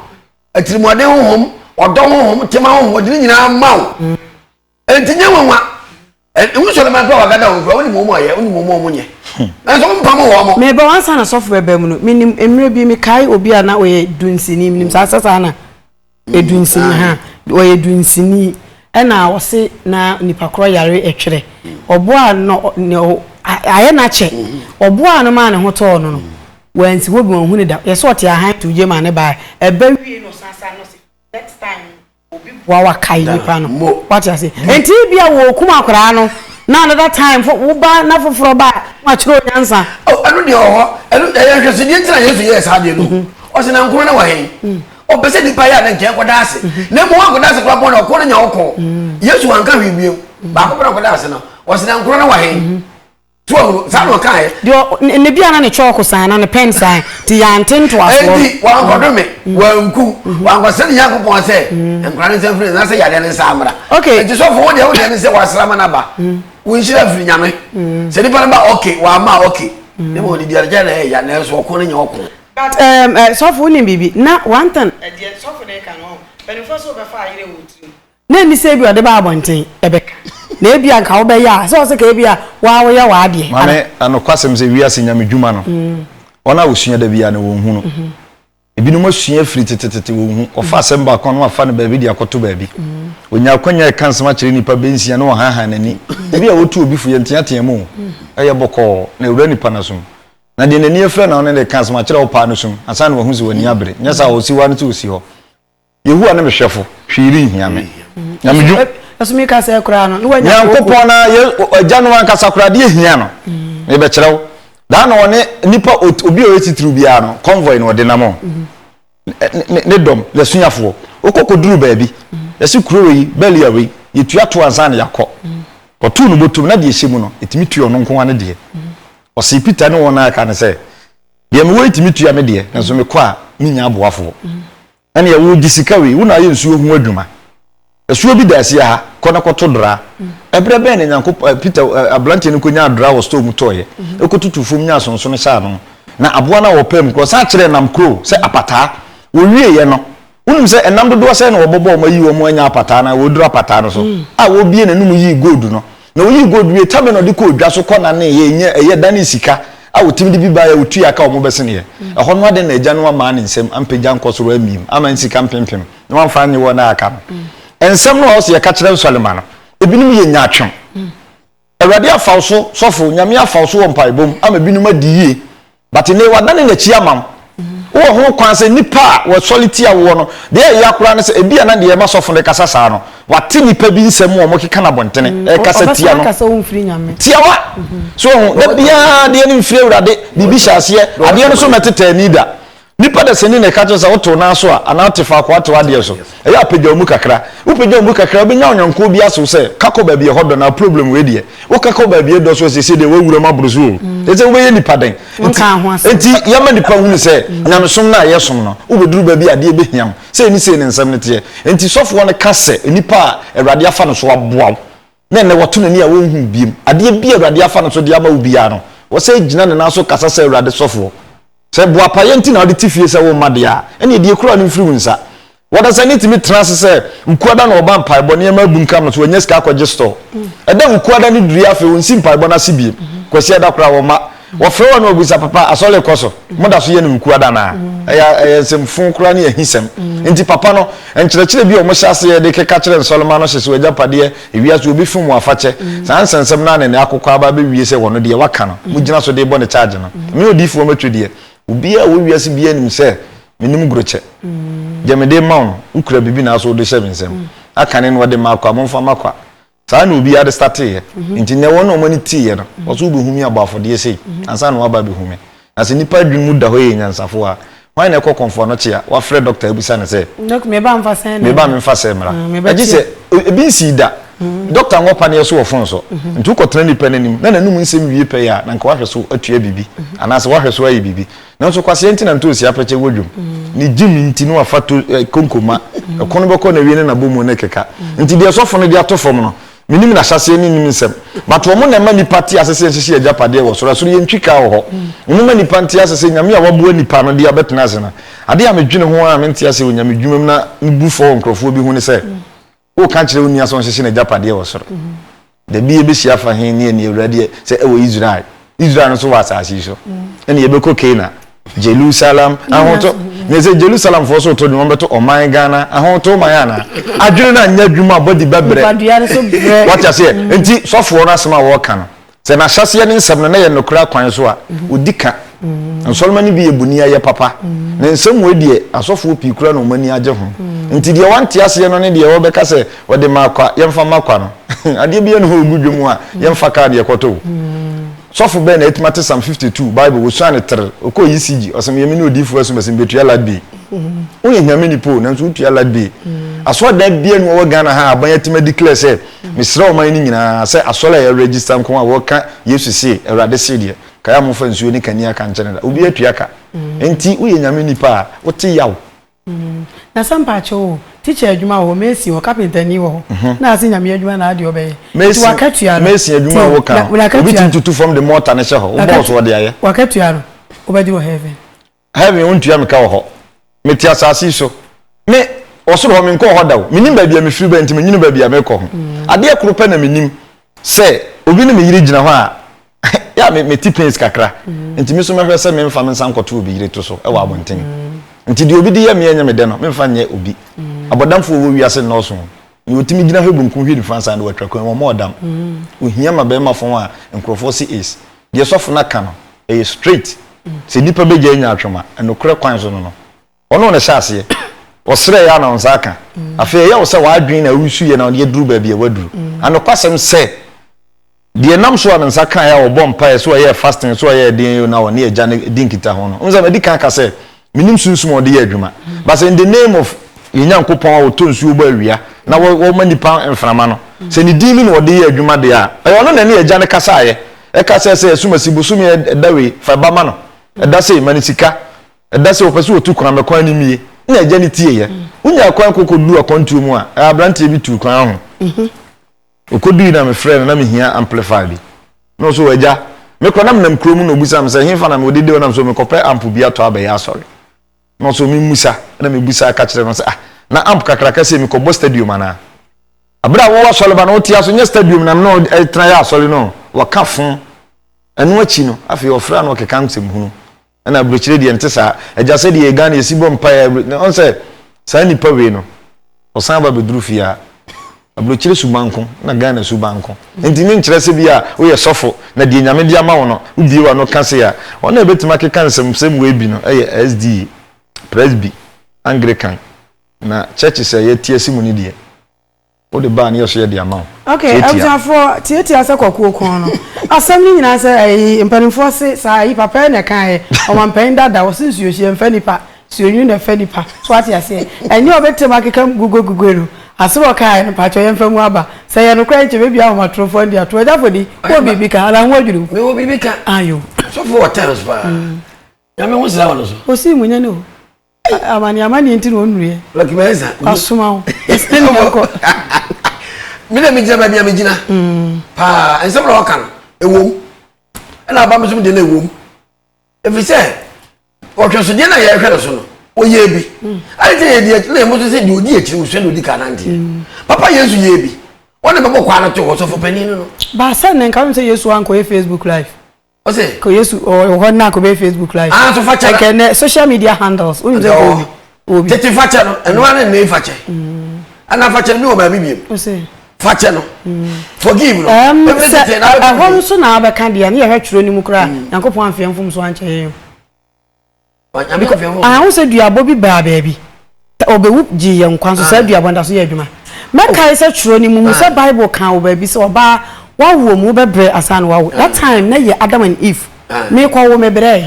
atirimuɔden honhom ɔdɔ honhom tema honhom ɔde no nyinaa ma wo mhm. ɛnti nyɛ nwanwa wosɔre ma kora wagada wo mfra wonim wɔ mu ayɛ wonim wɔ mu ɔmo nyɛ hmm. nanso wompam wɔ mo meba wansa na sɔfo bɛba mu no menim mmerɛ bi mekae obi a na ɔyɛ dunsini menim saa sɛ saa na Edunsini ha ɔyɛ dunsini ɛna ɔse na nipa korɔ yare ɛtwerɛ ɔboa no na ayɛ no akyɛ ɔboa no maa ne ho tɔɔ no no wansi hɔ bi wɔn hu ne da yɛsɛ ɔte ahan to gye maa ne baa ɛbɛ wie no san san no se next time obi boa wa kae nipa no wate ase nti bi a wɔ kum akoraa no na another time fo wo ba na foforɔ ba ma kyerɛ onyansa ɛno deɛ ɔhɔ ɛno ɛyɛ nhwɛsedeɛ ntina yesu yɛɛ saa deɛ no ɔse na nkoro na wɔ hɛn ɔpɛ sɛ nipa yɛ a na nkyɛn kɔda ase na mmom akɔda ase koraa bɔne ɔko no nya wo kɔɔ yesu wanka hwee bio baako pɛ na ɔkɔda ase no ɔsɛ na nkoro no wɔ he mhm. tí wọn hunu saa na ɔka yɛ. deɛ ne bi ana ne kyɔɔko san na ne pɛn san ti yante ntoasoɔ. eti wankɔdo mi mm. wanku mm-hmm. wankɔsɛ ne yanko pɔn sɛ mm. nkura ne nsɛm firi n'asɛ yadeɛ ne nsa amara. ok eti sɔfo wo deɛ wo deɛ ne sɛ wasra ma n'aba mm. wo nhyira firi nyame sɛ nipa ne ba ɔke wama ɔke ne ma ɔde diarigya na ɛyɛ na ɛso ɔko ne nyɛ ɔko. But ehm eh sɔfo wo nim biribi na wantan deɛ sɔfo no reka no oh mpaninfoɔ se wobɛfa ayere wɔ wo tiri mu na ɛnni sɛ ebia ɔde ba abɔnten ɛbɛka na ebia nka wobɛyɛ a sɛ ɔse ka ebia woa woyɛ w'adeɛ Maame ana. na nokwasɛm sɛ wiase nyame dwuma no wɔn a wɔsua da biara no wɔn hu no ebinom asua afiri tetetete wɔn hu wɔfa asɛm baako a na wafa no baabi de akɔto baabi ɔnya akwanya ɛka nsɛm akyerɛ nnipa bɛ nsia na wɔhanhan n'ani ebi a wɔtu obi fo yɛnteatea mu o ɛyɛ bɔkɔɔ na ɛwura nnipa no asom Na deɛ n'ani afira na ɔne no reka asɛm akyerɛ wo paa no sum, ansa na wahu sɛ w'ani abere. Nyɛ saa a, ɔsi hɔ ara no sɛ ɔsi hɔ. Yehowa ne me hwɛfo, hwee renhia me. Na me dwu. Ɛso mi ka sɛ koraa no, ne wanya koko. Nyankopɔn na yɛ agya no ankasa koraa deɛ ehia no. Mebɛkyerɛ wo. Daa na ɔne nipa obi a ɔyɛ titiriw biara no, convoy na ɔde nam o. ne dɔm, n'asuafoɔ, wɔkɔ kɔduru baabi, yɛse kuro wei, Belial wei, yɛtua toɔ ansa na yɛakɔ. Ɔtoo no bɔtom, na deɛ ɛhyɛ mu no, ɛtumi tua ɔno nko ara ne deɛ. Ɔsee Peter ne wɔn a aka no sɛ, deɛ mewɔ yi tumi tua me deɛ, nanso mekɔ a, mennya aboafoɔ. Ɛnneɛ, wogye sika wei, wo na ayɛ nsuo ho adwuma. Asuo bi da asia ha, kɔ na kɔto dra. Ɛberɛ bɛn na Nyankopɔ, Peter, aberanteɛ no kɔnyaa dra wɔ store mu tɔeɛ, kɔtutuu fam nyaa sonsono hyɛɛ ano, na aboa no a wɔpaa mu korɔ san kyerɛɛ nam kuro sɛ apataa. Wɔwieeɛ no, wonim sɛ ɛnam dodoɔ sɛn na wɔbɔbɔɔ wɔn ayi wɔn anya apataa no ara wɔduru apataa no so a wɔbue n'anom yii gold no Na oyii gold wiee, tabe na ɔde kɔɔ dwa so kɔnanee yɛ, nyɛ ɛyɛ, danee sika a wɔtumi de bi baeɛ a wɔtuaa ka a wɔbɛseneeɛ. Ɛhɔ no adɛn na agya no ammaa ne nsam ampagya ankɔ soro ammiem amma nsika mpempem na wamfa annye wɔn a aka no? Nsɛm no a ɔse yɛka kyerɛ nsɔre mma no, ebinom yɛ nyaatwom. Awurade afa wo so, sɔfo, Nyame afa wo so wɔ mpaebɔ mu ama binom adi yie But nnɛ yi wadane n'akyi ama wo. Wowɔ ho kwan sɛ nnipa a wɔsɔre tia woɔ no, deɛ ɛyɛ ya koraa ne sɛ ebia na deɛ ɛma sɔfo no rekasa saa no, wate nnipa bi nsɛm a wɔkeka no abɔntene mm, rekasa tia no. Tiawa! So ho, mm-hmm. da biara adeɛ no mfiri Awurade, biribi hyɛ aseɛ, adeɛ no so mɛtetɛ ani da. Nnipa da sani na ɛka kyerɛ sɛ wotew n'aso a, anaa wote faako atew adeɛ so. Ɛyɛ a pagya wo mu kakra. Wo pagya wo mu kakra a, wo bɛnya wo nyɔnko bi aso sɛ, ka kɔ baabi a ɛhɔ dɔ, na problem wei deɛ, wo ka kɔ baabi a ɛdɔ so a, seesei deɛ w'awura mu aboro so o. Kyerɛ sɛ wo bɛyɛ nipa dɛn? Nti, nti yɛma nipa hunu sɛ, nyamesom no a yɛ som no, wo bɛduru baabi a adeɛ bɛhia wo. Sei ne sei ne nsɛm no teɛ. Nti sɔfoɔ no ka sɛ, nipa a Awurade afa no so aboa wo, na ɛnnɛ wɔto n'ani a wɔnhu wo biem. Adeɛ bi a Awurade afa no so de ama wo biara no, wɔ sɛ gyina ne nan so kasa sɛ Awurade sɔfoɔ. Sɛ boapayɛ nti na wode te fie sɛ womma deɛ a, ɛnneɛ deɛ kura no mfiri wo nsa. Wɔdasani tumi tena ase sɛ Wukuada na ɔba mpaebɔ, nneɛma abunkam no so wanya sika akɔgye store. Ɛda a Wukuada no duri afei ɔnsi mpaebɔ no ase biem. Kwasiada koraa wɔma. Wɔfrɛ wo a na wɔbisa papa asɔre rekɔ so? Moda so yɛ no nkuwa da anaa? Ɛyɛ ɛyɛ nsɛmfuu koraa ne ahisɛm. Enti papa no, nkyerɛkyerɛ bi a wɔhyɛ aseɛ de keka kyerɛ nsɔremma no hyehye w'agyapadeɛ, ewiase wɔbɛfum wo afakyɛ. Saa nsɛnsɛm no ara na ɛnnɛ akokɔ aba abɛwie sɛ wɔno deɛ waka no, mogyina so de rebɔ no charge no. Me odiyifoɔ mɛtwe deɛ. Obiara a ɔwɔ wiase biara nim sɛ menim grokyɛ. Deɛ mede rema wo no, wokura biribi nanso wode rehyɛ me nsam. Akane no wɔde mma akoa, momfa mma akoa. Saa na obiara de starteeɛ. Nti nnɛ wɔn a wɔn ani teeɛ no, wɔn nso wobɛhu me abɔ afɔdeɛ sei ansa na wɔaba abɛhu me. Na sɛ nnipa adwene mu da hɔ yɛ nyansafo a, hwan na ɛkɔ kɔmfoɔ ano kye a wafrɛ dɔkta abisa no sɛ, Dɔk, me ba mfa sɛn na me ba memfa sɛn mmra? Mm, mebɛkye. Gye sɛ e- ebi nsii da. Dɔkta nwɔ paneɛ so wɔ fon so. Nti wokɔtena nnipa no anim na n'anom nsɛm wie pɛyɛ a, na anka wahwɛ so atua biribi anaasɛ wahwɛ so ayɛ biribi. Nanso kwasea nti na ntoosi apɛkyɛ wɔ dwom. Ne gyimi nti na wafa to eh, konko ma. Ɛko no bɛkɔ na wie ne nabɔ mu ne keka. Nti deɛ sɔfo no de ato fam no, menim n'ahyɛseɛ ne nim nsɛm. But wɔn na ɛma nnipa te ase sɛ yɛnhyehye yɛn agyapadeɛ wɔ soro. Ɛsoro yɛ ntwikaa wɔ hɔ. Wɔn ma nnipa nte ase sɛ Nyame a waboa nnipa no dea bɛtena ase no. Adeɛ a medwene ho ara a mente aseɛ wɔ Nyame dwuma mu na mebu fɔ wɔ nkorɔfoɔ bi ho ne sɛ, O ka kyerɛ wo nua sɛ ɔnhyehye n'agyapadeɛ wɔ soro. Da bi yɛbɛhyia afa he ne ani awura deɛ sɛ ɛwɔ Israel? Israel no so wɔ asase yi so. Ɛne yɛbɛkɔ Kena, Jerusalem, ahoto. Meyɛ sɛ Jerusalemfoɔ so to dwom wɔbɛto ɔman Ghana ahoto man anaa? Adwene no anyɛ adwuma, body bɛbrɛ. Wate aseɛ? Nti sɔfoɔ no asɛm a wɔka no, Sɛ n'ahyɛseɛ ne nsɛm no na ɛyɛ nokorɛ akwan so a, ɔdi ka. Nsɔremma no bi yɛ boniayɛ papa. Ne nsɛm wei deɛ, asɔfoɔ pii koraa na wɔn ani agye ho. Enti deɛ wɔnte aseɛ no ne deɛ wɔbɛka sɛ, Ɔde maa kwa, yɛmfa mma kwa no. Adeɛ biara nni hɔ a ɔgu dwam a yɛmfa kaa deɛ ɛkɔtɔ o. Sɔfo bɛn na atumi ate Psalm 52, Bible, wɔsuaa no terr, ɔkɔɔ ECG, ɔse meyɛ mene odiyifoɔ ɛso mɛse mebɛtua Ladbay. Woyɛ Nyame nipa o, nanso wotua Ladbay. Asɔredan biara nni hɔ wɔ Ghana ha a aban atumi a declare sɛ Mesrɛ ɔman no nyinaa sɛ asɔre a yɛ register nko a wɔka Yesu se Awurade se deɛ, kae a momfa nsuo ne kanea ka nkyɛne da. Obiara tua ka. Enti woyɛ Nyame nipa a, wote yaw. Na sɛ mpaakyɛw o, teacher adwuma wɔ hɔ, mason wɔ hɔ, carpenter ni wɔ hɔ, na ase Nyame adwuma na adeɛ ɔbɛyɛ. Nti wakatua no. Mason adwuma a woka no, obi tumi tutu fam de mortar no hyɛ hɔ. Wobɔɔ so ɔde ayɛ. Wakatua no, wobɛgye wɔ heaven. heaven wontua me ka wɔ hɔ mete asase yi so me ɔsoro hɔ menkɔɔ hɔ da o menim baabi a mefiri bɛn nti menyini baabi a mekɔ ho mm. adeɛ koro pɛ na menim sɛ obi ne me yere gyina hɔ a yɛ a mete pains kakra mm. nti me so mɛhwɛ sɛ memfa me nsa nkɔto obi yere to so ɛwɔ abɔnten mm. nti deɛ obi de yɛ meɛ nyɛ me dɛ no memfa nyɛ obi abɔdamfoɔ wɔ wiase nnɔɔso Deɛ ɔtumi gyina hɔ benkum hwɛ nifa nsa na watwa kwan wɔn ɔdam. Ohia ma bɛrima fam a nkurɔfoɔ se is. Deɛ sɔfo no aka no, ɛyɛ straight. Sɛ nipa bɛgya anya atwom a, nokorɛ kwan so no no. Ɔno na ɛhyɛ aseɛ. Ɔsrɛɛ a na wo nsa aka. Afei ɛyɛ wo sɛ w'adwene na woresuyɛ na yɛduru baabi a waduru. Anokwasɛm sɛ. Deɛ ɛnam so a ne nsa kaeɛ a ɔbɔɔ mpaeɛ sɛ ɔyɛɛ fasting sɛ ɔyɛɛ deɛn o na ɔne agya no di nkitaho no. Wohu sɛ madi kan aka sɛ menim sunsum a ɔde yɛ adwuma but sɛ in the name of yɛn Nyankopɔn a ɔtɔ nsuo bɔ awia na ɔma nnipa mframa no sɛ ne din no na ɔde yɛ adwuma deɛ a ɛyɛ ɔno na ɛne agya no kasaeɛ ɛka sɛ sɛ asumasi bosome ɛda wei fa ba ma no ɛda sei ma no sika ɛda sɛ ɔpɛ sɛ ɔtu kwan mɛkwan no mie na agya no tieeɛ wonya kwan kɔkɔduru akwantuo mu a abranteɛ bi tuu kwan ho mhm. Okodui na me frɛɛ no na me hia amplifier bi na ɔse oh agya me kɔ na me nam kuro mu na obisa me sɛ henfa na me wɔ de de ɔnam sɛ mekɔ pɛ amp bi atɔ abɛyɛ asɔre na ɔse oh me musa na me busa ka kyerɛ no ɔse ah na amp kakraka sei me kɔ bɔ stadium anaa abere a wowɔ asɔre ba na wote aso nyɛ stadium na me na ɛtena yɛ asɔre no wɔ ka fo ɛno akyi no afei ɔfrɛ a na ɔkeka nsɛm hunu ɛna abirikyire deɛ nte saa agya sɛ deɛ Ghana yɛsi bɔ mpaeɛ abiri na ɔn sɛ saa nipa wei no ɔsan ba bɛduru fie a abirikyire su banko na Ghana su banko nti ne nkyerɛ sɛ bi a woyɛ sɔfo na deɛ nyame de ama wo no wobie wa no ka se a wɔn a ɛbɛtumi akeka nsɛmsɛm wei bi no ɛyɛ SDA Presby Anglican na churches a yɛte asi mu no deɛ Wode ba a ne yɛso yɛde ama wo. Ok abusuafoɔ tiatia sɛ kwakuo kɔn no asɛm no nyinaa sɛ ɛyi mpaninfoɔ se saa ɛyi papa na ɛkaeɛ ɔmanpanin dada ɔse nsuo hyeɛ mfa nipa nsuo nwunu na ɛfa nipa so wate aseɛ ɛnyɛ ɔbɛtem akeka gugue gugue no asem ɔkaeɛ no mpakyɛw yɛmfa mu aba sɛ ɛyɛ nokorɛ nkyɛ bɛbia ahomatorofoɔ ndi atorɔ gyafodi wowɔ biribi ka anaa ho adwiri wo mewɔ biribi ka ayo sɔfo wɔ times paa nyame ho sra wo no so ɔsii mu nyɛ ne o amane amane nti na ɔnnuruiɛ Lucky Mensa wasoma wo ɛsɛ ne ɛkɔ me na megyina baabi a megyina mm. paa nsɛm na ɔka no ɛwom ɛna aba me so deɛ na ɛwom ɛfiri sɛ ɔhwɛsodeɛ no a yɛhwɛ no so no ɔyɛ bi mm. ade sɛ yɛdi na yɛmo so sɛ deɛ ɔdi akyiri wosua deɛ ɔdi ka nanteɛ mm. papa yesu yɛ bi wɔne bɛbɔ kwaa no to hɔ sɔfo panin no no baasɛ ne nka wem sɛ yesu ankɔyɛ facebook live ɔsɛ kɔ yesu ɔwɔ hɔ na akɔbɛyɛ facebook live ah so fakyɛ na ɛkɛ nɛ social media handles wonim sɛ kɔ obi obi tete fakyɛ no ɛno ara ne fakyɛ ɛna fakyɛ ne wɔ baabi biem fakyɛ no forgive no ɛbɛrɛ tete na ɛhɔ nso na abɛka deɛ ne yɛhwɛ twerɛ no mu koraa nyankopɔn amfeɛ mfom so ankyɛ yɛn Mahu sɛ duabɔ bi baa baabi. Sɛ obewu gyee yɛn nkwa nso, saa duabɔ no da so yɛ adwuma. Mɛkae sɛ kyerɛw no mu hu sɛ Bible ka wɔ baabi sɛ ɔbaa wawo mu bɛbrɛ ansa na wawo. That time na yɛ Adam and Eve. Merekɔwo mebrɛe.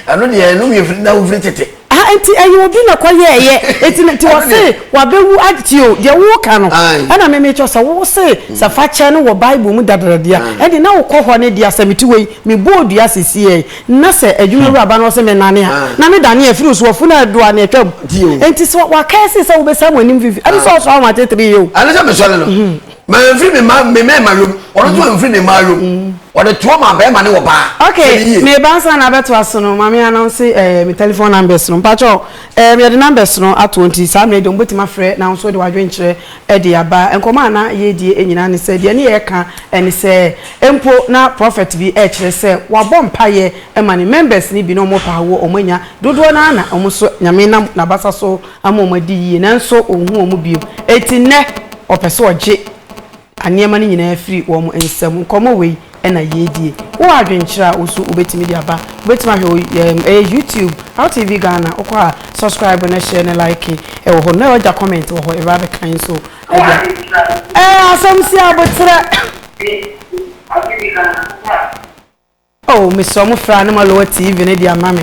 Ɛno deɛ ɛno yɛ firi na wofiri tete. Ah, nti ɛyɛ obi na kɔ yɛ ɛyɛ. Nti nti wɔse wabewu agye o. Deɛ woka no. Ɛna me mekyɛ sɛ wo se sɛ fakyɛ no wɔ Bible mu dadradia. Ɛde na wokɔ hɔ ne deɛ asɛm ti wei mebɔ odua sisi yɛ. Na sɛ adwumawura ba na ɔse mennane a, na me dane afiri wo so, w'afunu a ɛdoa no atwam. Enti sɛ w'akae se sɛ wobɛsan wɔn anim fifi, ɛne sɛ ɔsɔre wɔn atetere yɛ o. Ɛne sɛ mesɔre no, mamfiri me mma, me mmarima yom, ɔno nso amfiri ne mmaa yom, ɔde toɔ maa barima ne ɔbaa. Ok, meba ansa na abɛtoa so no, ma me announce eh, me telephone numbers no. Mpakyɛw, eh, yɛde numbers no ato hɔ nti saa mmerɛ yi deɛ wɔbɛtumi afrɛ na wo nso wode w'adwene kyerɛ de aba. Nkɔmmɔ a na yɛredi nyinaa ne sɛ, deɛ ne yɛreka ne sɛ, mpo na prɔfɛt bi rekyerɛ sɛ wabɔ mpaeɛ ma ne members no bi na wɔpɛ a wɔ wɔn anya, dodoɔ no ara na wɔn nso Nyame nam n'abasa so ama wɔn adi yie, nanso ɔnhu wɔn bio. Enti nnɛ ɔpɛ sɛ ɔgye nneɛma no nyinaa firi wɔn nsam. Nkɔmmɔ wei na yɛredie. Wowɔ adwenkyerɛ a wo nso wobɛtumi de aba. Wobɛtumi ahwɛ wɔ yɛn ɛyɛ YouTube, LTV Ghana. Wokɔ a, subscribe na share na like wɔ hɔ. Na wagya comment wɔ hɔ, yɛbɛba abɛka nso. Wowɔ adwenkyerɛ a wo nso wobɛtumi. Ɛɛ asɛm si aboterɛ. Ɛyɛ YouTube, LTV Ghana. Wokɔ a. Oh, mesrɛ mo frɛ Anemaloa TV no de ama me.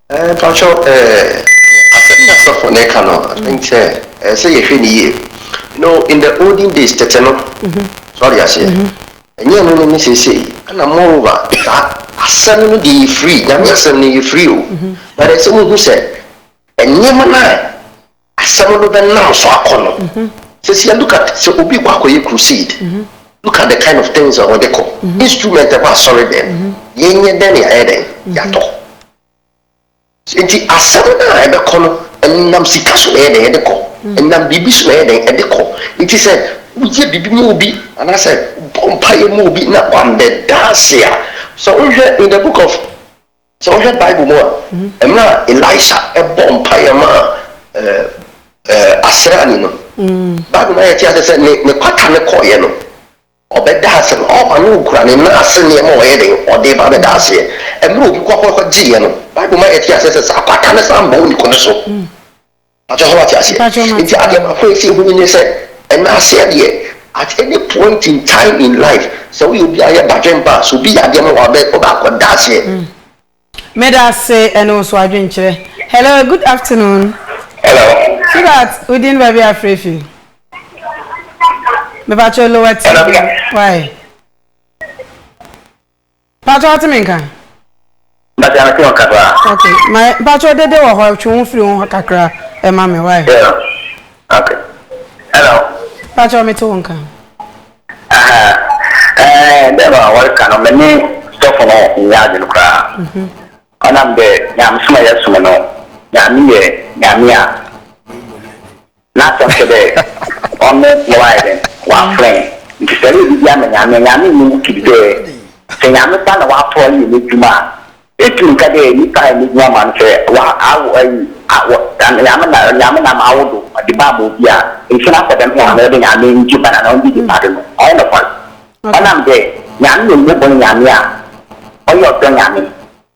Ɛɛ mpakyɛw ɛɛ asɛm yi a sɔfo no reka no I think sɛ ɛsɛ sɛ yɛhwɛ no yie. You know in the olden days tete no so ate aseɛ ɛnyɛ ɛno ne ne seesei ɛna moreover saa asɛm no deɛ yɛ free Nyame asɛm no yɛ free o but ɛsɛ mo hu sɛ nneɛma no a asɛm no bɛnam so akɔ no. Seesei look at sɛ obi rekɔ akɔyɛ crusade, look at the kind of things a wɔde kɔ, instrument ɛwɔ asɔredɛm, yɛnyɛ dɛn na yɛayɛ dɛn? Yɛatɔ. Enti asɛm no a ɛbɛkɔ no, ɛnam sika so na ɛyɛ dɛn? Ɛde kɔ. Ɛnam biribi so na ɛyɛ dɛn? Ɛde kɔ. Enti sɛ woyɛ biribi ma obi anaasɛ wobɔ mpaeɛ ma obi na wammɛda ase a, sɛ wohwɛ in the book of. Sɛ wohwɛ Bible mu a, mmerɛ a Elisha bɔɔ mpaeɛ maa asraani no, Bible ma yɛte aseɛ sɛ ne kwata no kɔeɛ no, ɔbɛdaa asɛm, ɔɔba na ɔkura ne nan ase nneɛma a ɔyɛ dɛn, ɔde reba abɛda aseɛ. Mmerɛ a obi kɔkɔgyeeɛ no, Bible ma yɛte aseɛ sɛ saa kwata no san bɔɔ ne kunu so. Pakyɛ sɛ wate aseɛ? Mpakyɛ mate Nti adeɛ paa. baako a ɛsɛ hunu ne sɛ ɛna aseɛ deɛ at any point in time in life sɛ woyɛ obi a yɛ badwen paa sɛ obi yɛ adeɛ ma wo a wobɛ wobɛ akɔ da aseɛ. Meda ase ɛne wo nso adwenkyerɛ. Hello good afternoon Hello. so that wo din baabi a frɛ fi mepakyɛ lower Hello, tv no why. Mpatsɔ atse me nka? Mpatsɔ atse wo nka paa. Ok, ma mpatsɔ dede wɔ hɔ twe wo firi wo ho kakra ma me why? Yeah, ok. Hello. Mpatsɔ metse wo nka. Aha, ɛɛ dɛ ma wɔreka no me ne sɔfo no nnyɛ adwen koraa. Ɔnam dɛ Nyamesom a yɛsom no, Nyame yɛ Nyame a. N'asɛm kyerɛ dɛ ɔno na ɔayɛ dɛn? Ɔafrɛ hɛn. Ntsi sɛ ereyɛ biribi ama Nyame a, Nyame nnyɛ wo kid dɛ sɛ Nyame ba na ɔatoa do yɛ n'edwuma a, etum nka dɛ nyimpa ayɛ n'edwuma ma no. Sɛ ɔawo ayi a, wɔ Nyame na Nyame na ama awo do ɔdze ba ama obi a, nkyɛ na akɔ dɛm hɛn dɛ Nyame ngye ba no anaa ɔnngye gye ba do no, ɔnnyɛ nokwar. Ɔnam dɛ Nyame yɛ mbɔbɔr Nyame a ɔyɛ ɔdɔ Nyame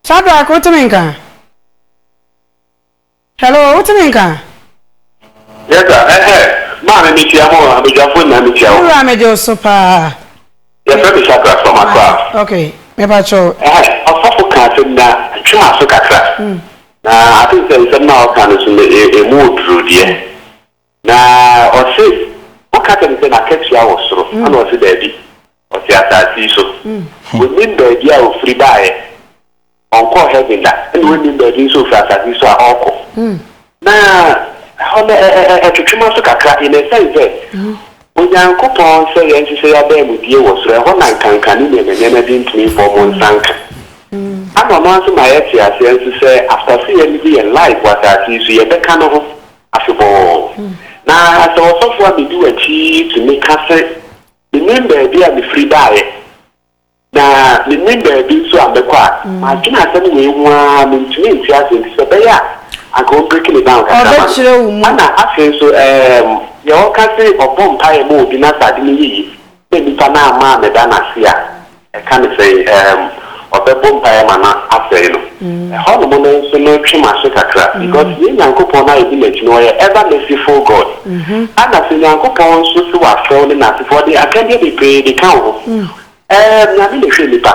Sadrak wo te me nka? Hello wo te me nka? Yes sir, ɛhɛ, maame me tia mo, abadwafo nyinaa me tia wɔn. Me wura me gye wo so paa. Yɛfrɛ me Shadrach from Accra. Ok, me pa kyɛw. Ɛhɛ, ɔsɔfo ka asɛm na twe ma so kakra. Na I think sɛ nsɛm no a ɔka no so no, emu oduro deɛ. Na ɔse woka kyerɛ no sɛ n'akatua wɔ soro a na ɔse daabi ɔte asase yi so ɔnim baabi a ɔfiri baeɛ ɔnkɔɔ heaven da ɛna ɔnnim baabi nso ɔfiri asase yi so a ɔrekɔ na ɛhɔ no ɛtwetwe m'aso kakra in a sense sɛ Onyankopɔn sɛ yɛnhyehyɛ y'adaamudie wɔ soro ɛhɔ na nkanka ne nneɛma nneɛma bi ntumi mbɔ mo nsa nka ana ɔno ara nso ma yɛte aseɛ nso sɛ after sɛ yɛ live yɛn life wɔ asase yi so yɛbɛka no ho afebɔɔ. Na sɛ ɔsɔfo a medi w'akyi yi tumi ka se, 'Minnim baabi a mefiri baeɛ, na mennim baabi nso a mɛkɔ' a, madwene asɛm wei ho ara a mentumi nte ase, enti sɛ ɛbɛyɛ a anka ɔmbreki me down kakra ma me. Ana afei nso, ɛɛm, deɛ ɔka se ɔbɔ mpaeɛ ma obi na sɛ ade no yɛ yie Sɛ nipa no amma ammɛda no ase a, ɛka ne sɛn? Erm ɔbɛbɔ mpaeɛ ma no asɛe no. Ɛhɔnom no nso no twe m'aso kakra because yɛn Nyankopɔn no a yɛdi n'akyi no ɔyɛ ever merciful God. Ana sɛ Nyankopɔn nso se wafrɛ wo ne n'asefoɔ, ɔde akɛdeɛ bebree de ka wo ho. Erm Nyame na ɛhwɛ nipa.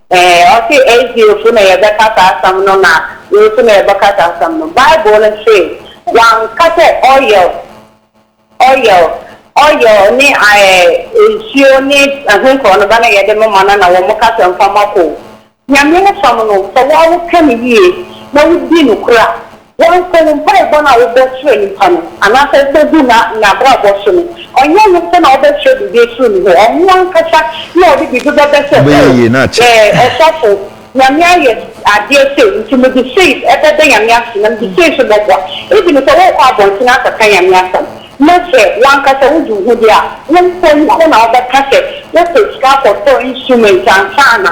Ee, ɔse Azeefo na yɛbɛka saa asɛm no na wei nso na yɛbɛka saa asɛm no. Bible no se wanka sɛ oil, oil, oil ne ɛɛ nsuo ne ɛho nkorɔ no ba na yɛde mema no na wɔn kasa mfa ma kɔ o. Nyame asɛm no sɛ wo ara woka no yie na wodi nokorɛ a, Wɔnnsɛ wo mpaebɔ no a wobɔ kyerɛ nyimpa no, anaasɛ wobɔ gu na n'abrabɔ so no. Ɔnnyɛ ɔno mpo na ɔbɛkyerɛ biribi efir no hɔ, ɔno ankasa na ɔdze biribi bɛbɛ sɛ, O, eh, ɔsɔfo, Nyame ayɛ adeɛ sei, ntsi medze sei bɛda Nyame ase, na medze sei so bɔboa. Ebn sɛ wɔɔkɔ abɔntsen akɛkã Nyame asɛm, na sɛ wankasa wodzi wo ho dɛ a, wo mpo ɔno na ɔbɛkã sɛ wopɛ sika kɔtɔɔ instrument ansaana,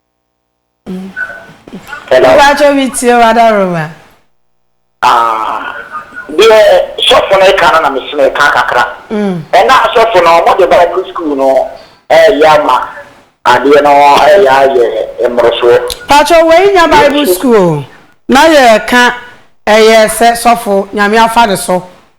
Mpakyɛ me tie wo ada roma. Deɛ sɔfo no reka no na mesi meka kakra. Ɛna asɔfo no wɔde Bible school no ɛyɛ ama adeɛ no ɛyɛ ayɛ mmorosoɔ. Pakyɛ wei nya Bible school na yɛka ɛyɛ sɛ sɔfo nyame afa ne so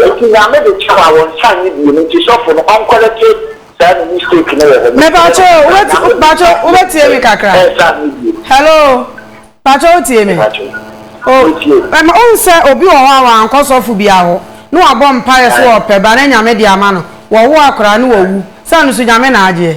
Enti Nyame de kyɛw a wɔn nsa nye bio no nti sɔfo no ɔnkɔrɛkye saa ne mistake no wɔ hɔ. Mepakyɛw o, pakyɛw wobɛtie me kakra? Hello, pakyɛw wotie me? O, ohu sɛ obi wɔ hɔ a wankɔ sɔfo bia hɔ, ne wabɔ mpaeɛ sɛ ɔpɛ ba na Nyame de ama no, wɔwo akwadaa no wawu, sɛ ɛno nso Nyame na agyeɛ?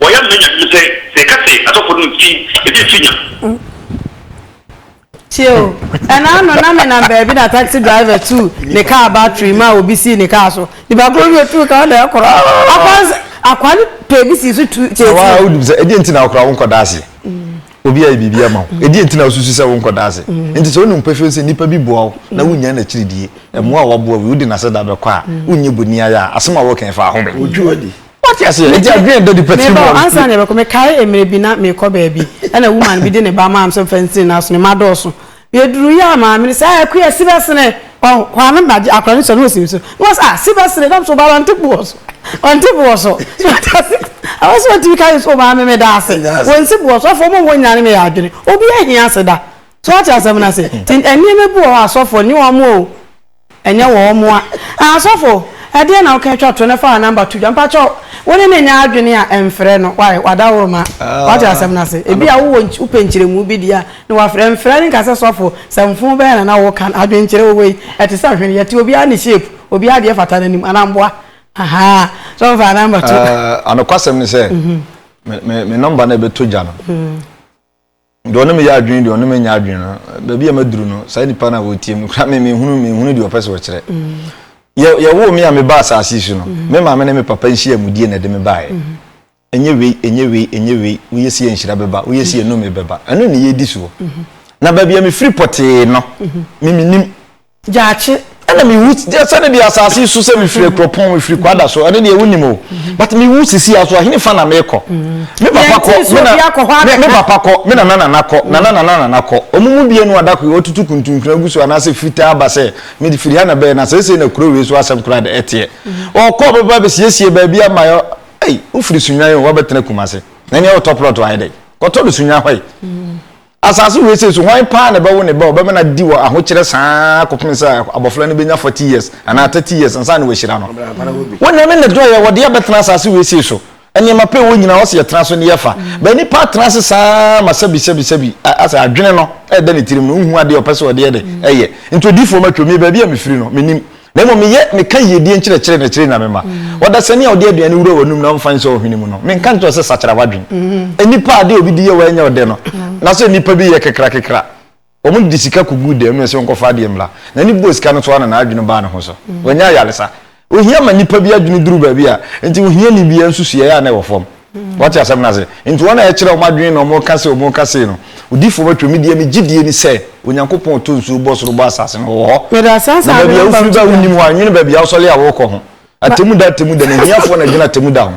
Wɔyɛ no manyadwuma sɛ sɛ yɛka sɛ asɔfoɔ no mfi ebi mfi nya. Tie o, ɛna ano na menam baabi na taxi driver tuu ne kaa battery maa obi sii ne kaa so. Nipa koro bi otuu kaa na ɛkorɔ. Akwansa akwa no pɛ bi sii so tu tie tie. Awa wonim sɛ ɛdeɛ nti na wokora wo nkɔda ase. Obi ayɛ biribi ama wo. Ɛdeɛ nti na wosusu sɛ wo nkɔda ase. Nti sɛ wonim pefee sɛ nipa bi boa wo na wonnya n'akyiridie, mmoa a waboa wo yi, wode n'aseda bɛkɔ a, wonnye bɔni ayɛ a, asɛm a woka yi fa ahome. Wotwi w'adi. What you say? It's a dream that the person wants. Me ba ansa na bɛkɔ me kae emre bi na me kɔ baabi. Ɛna woman bi de ne ba maa me sɛ fɛnsiri na so ne ma dɔɔso. Yɛ duru yɛ a maame ne sɛ ayɛ ko yɛ si bɛsene. Ɔ hɔ ano na akora ne sɔ ne osim so. Ne wɔsɛ ah si bɛsene nam so ba wante bu wɔ so. Wante bu wɔ so. Awa sɛ wɔtumi ka yɛ so maame me da ase. Wɔnsi bu wɔ so afɔ mo wɔ nyina ne me yɛ adwene. Obi ahia se da. So ate asɛm no ase. Ti ɛnneɛma bi wɔ hɔ asɔfoɔ ne wɔn o. Ɛnyɛ wɔ wɔn a. Ah asɔfo ɛdeɛn na woka twa to no fa number to dwa mpakyɛ wo ne no nyɛ adwene a ɛnfrɛ no why wada wo rema wate asɛm no ase ebi a wowɔ wopɛ nkyerɛmu bi deɛ a na wafrɛ ɛnfrɛ no nka sɛ sɔfo sɛ mfon bɛyɛ na na woka no adwene nkyerɛ wowei ɛte sɛ hwene yɛte obiara ne shape obiara deɛ fata n'anim anaa mboa ahaa sɔfo fa number to. Ah anokwasɛm ne sɛ me me me number no ɛbɛtɔ dwa no. Deɛ ɔne me yɛ adwene deɛ ɔne me nyɛ adwene no baabi a maduru no saa nipa no a wɔtie mu kora me mehunu mehunu deɛ ɔpɛ sɛ ɔkyerɛ yɛwoo me a meba asase so no me maame ne me papa nhyia mu die na ɛde me baeɛ ɛnyɛ wei ɛnyɛ wei ɛnyɛ wei woyɛ si yɛ nhyira bɛba woyɛ si yɛ nnome bɛba ɛno ne yɛdi soɔ na baabi a mefiri pɔtee no me menim Gyakye, ɛna mi wu sɛne deɛ asase yi so sɛ mi firi akuropɔn mi firi kwada so ɛne deɛ wonim o but mi wu sisi aso ahene fa na mi kɔ mi papa kɔ mi papa kɔ mi nana nana kɔ nana nana nana kɔ wɔn mu bie no adako yi ɔtutu kuntunkuna gu so anaasɛ fitaa ba sɛ mi de firi ha na bɛyɛ na sɛsɛ na kuro wei so asɛm kura de ɛteɛ ɔkɔ ɔbɛba bɛsiesie baabi ama yɛ ɛyi wofiri sunwan o wabɛtena kumase na ɛni ɛwɔ tɔ plɔt ayɛ dɛ kɔtɔ do sunwan hɔ yi. Asase wesee so, hwan paa na ɛbɛwo ne ba a ɔbɛma no adi wɔ ahokyerɛ saa ara kɔpem sɛ abɔfra no bɛnya forty years anaa thirty years ansa na wahyira no? Onyame na ɛdɔɔ yɛn, wɔde yɛn abɛtena asase wesee so. Nneɛma pa a ɛwɔ nyinaa, ɔse yɛtena so ne yɛfa. But nnipa atena ase saa ara ma sɛbi sɛbi sɛbi, asɛ adwene no ɛda ne tirim no, nhu adeɛ a ɔpɛ sɛ ɔde yɛ dɛ? Ɛyɛ. Nti odiyifoɔ matwam, me baabi a mefiri no, mennim. Na mmom meyɛ meka yiedie nkyerɛkyerɛ na ɛkyerɛ Nyame ma. Ɔdasani a ɔde aduane wura w'anom na ɔmfa nsɔ wo hwene mu no, menka nkyerɛ wo sɛ sakyera w'adwen? Nnipa a ade a obi de yɛ wo ɛnyɛ ɔdɛ no, na sɛ nnipa bi yɛ kekrakekra, wɔn de sika kɔgu dɛm na ɛsɛ ɔnkɔfa adeɛ mmra. N'ani bɔɔ sika no so ara na n'adwene baa ne ho so. Wanya ayaresa. Ohia ma nnipa bi adwene duru baabi a enti ohiani biara nsusuiɛ a na ɛwɔ fam. Wate asɛm no ase? Nti wɔn a ɛkyerɛ wɔn adwene na wɔn ka sei, wɔn ka sei no, odiifoɔ bɛtwerɛ, me deɛ me gyedie ni sɛ, Onyankopɔn a ɔtɔ nsuo bɔ soro bɔ asase no, Ɔwɔ hɔ. Na baabi a wofiri ba a wonnim hɔ a, nwene baabi a wosɔre a worekɔ ho. Atemmuda atemmuda ni, ahiafoɔ na ɛdwene atemmuda ho.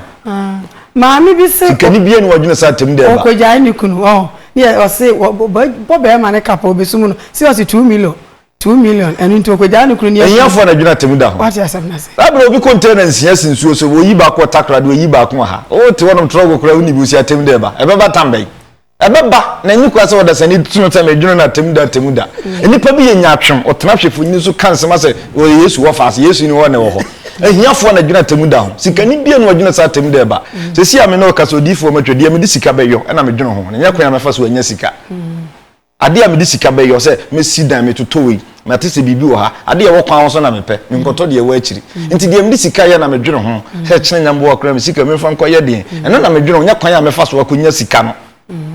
Maame bi se. Sikani biara ni ɔdwene sɛ atemmuda ɛba. Ɔkɔgyae ne kunu, ɔho, ne yɛ, ɔse, wɔbɔ bɛrima ne kapa, ɔbɛsum no, seriously, two million. Two million ɛnu nti okogyaa ne kunu ni ɛkɔ. Ehiafoɔ na dwene atemu da ho. Wate asɛm no ase. Saa berɛ obi container nsia si nsuo so oyi baako wɔ Takoradi oyi baako wɔ ha wo te hɔnom trɔgo koraa wo ni bi wo si atemu da ɛba ɛbɛba tam bɛn ɛbɛba na enyi koraa sɛ ɔdasani ti no sɛ me dwene no atemu da atemu da mm. nnipa bi yɛ nyatwem ɔtena hwɛfo nyini so ka nsɛm asɛ ɔyɛ Yesu wɔ faase Yesu ni hɔ na ɛwɔ hɔ ahiafoɔ na dwene atemu da ho sikani bia no ɔdwene sɛ atemu da ɛba mm. sɛ si a me na ɔka sɛ odiifoɔ matwa deɛ mede sika bɛyɔ ɛna medwene ho ne nyɛ kwan a mɛfa so anya sika mm. Adeɛ a mede sika bɛyɛ ɔ sɛ mɛsi dan, metoto wei, mate sɛ biribi wɔ ha. Adeɛ a ɛwɔ kwan ho so na mepɛ, menkɔtɔ deɛ ɛwɔ akyiri. Nti deɛ mede sika yɛ na medwene ho sɛ ɛkyena nyamboa koraa me sika memfa nkɔyɛ deɛn. Ɛno na medwene ho, nyɛ kwan a mɛfa so akɔnya sika no.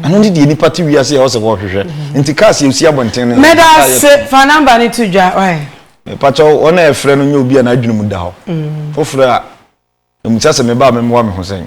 Ɛno ne deɛ nnipa te wiase a ɛwɔ sɛ wɔhwehwɛ. Nti cars a ɛsi abɔnten no nso ɛyɛ car yɛtɔn. Fa number no to dwa why? Mepakyɛw wɔn a ɛfrɛ no nyɛ obi a n'adwene mu da hɔ. Foforo a, ɛmisa sɛ me ba a memmoa me ho sɛn?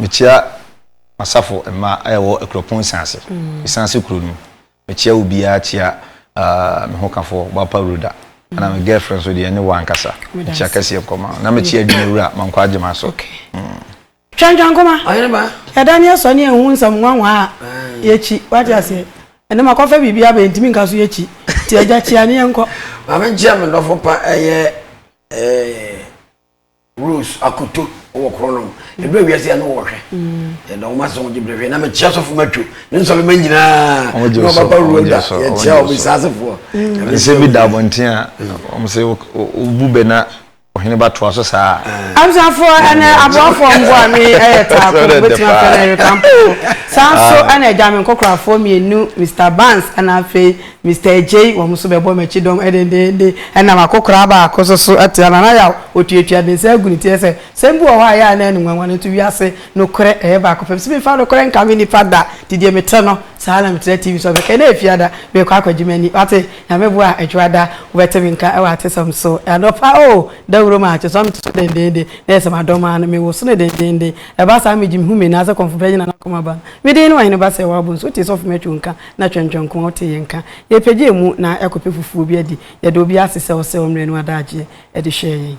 Mekyia m'asafo mma a ɛwɔ Akuropɔn Nsiase, Nsiase kuro no mu. Mekyia obiara kyia me hokafo Boapa Rhoda. Ɛna me girlfriend nso deɛ ne wo ankasa. Mekyia kɛseɛ nkɔma. Na mekyia adwuma wura Mankwa Agyema so. Twantwa nkɔma. Yɛda ne yɛsɔ ne yɛhu nsɛm nwanwa a yɛkyi. Wate aseɛ. Ɛnɛ makɔfa biribi aba yɛntumi nka so yɛkyi. Nti agya kyia ne yɛnkɔ. Maame nkyia me dɔfo pa ɛyɛ ɛɛ. Rose Akoto wɔ koro no ɛdurɛ wiase a ne wɔhwɛ yɛda wɔn ase wɔn gyebere hwɛ na mekyia sɔfo matwo ne nsɔre ma nyinaa na ɔbaba Rwanda yɛkyia wɔn nsaasefoɔ ɛsɛ bi da abɔnten a wɔn sɛ wobu bɛ na ɔhene ba toa so saa abusafoɔ ɛnɛ aboafoɔ mbo a me ɛyɛ taako bɛtumi afɛ no ɛreka mpofo saa nso ɛna agya me nkɔkorafoɔ mmienu Mr Barnes ɛna afei Mister Adjei, Wɔn nso bɛbɔ m'akyi dɔm dendeenden. Ɛnam akokoraa baako so so te a, Nana Yaw, otuatua ne nsa gu ne ti, ɛsɛ, Sɛm bi wɔ hɔ a ɛyɛ a na ɛne nwanwa no nto wiase nokorɛ ɛyɛ baako pɛ. Mese memfa nokorɛ nkame nnipa da, nti deɛ mete no, saa ara na metra TV so. Ɔbɛka, Ɛnnɛ yɛ Fiada, merekɔ akɔgye m'ani. Wate? Nyame boa a, Dwoada, wobɛte me nka wɔ atesɛm so. Anɔpa, oh, dawuro mu a, kyerɛ sɛ ɔno mete so dendeenden, na ɛsɛ sɛ madɔm ara no, mewoso no dendeenden. Ɛba saa a, megye me hu me nan ase kɔmfo bɛgye Nana Komaba no. Me din ne Ɔheneba Sɛɛwabo nso, wotee sɛ ɔfom atwo nka. na Twɛntwɛnko a ɔte yɛn nka. Yɛpɛgyɛɛ mu na ɛkɔpɛ fufuo bi adi. Yɛda obiara ase sɛ ɔsɛɛ ɔmmerɛ ne w'adagyeɛ de hwɛɛ yɛn.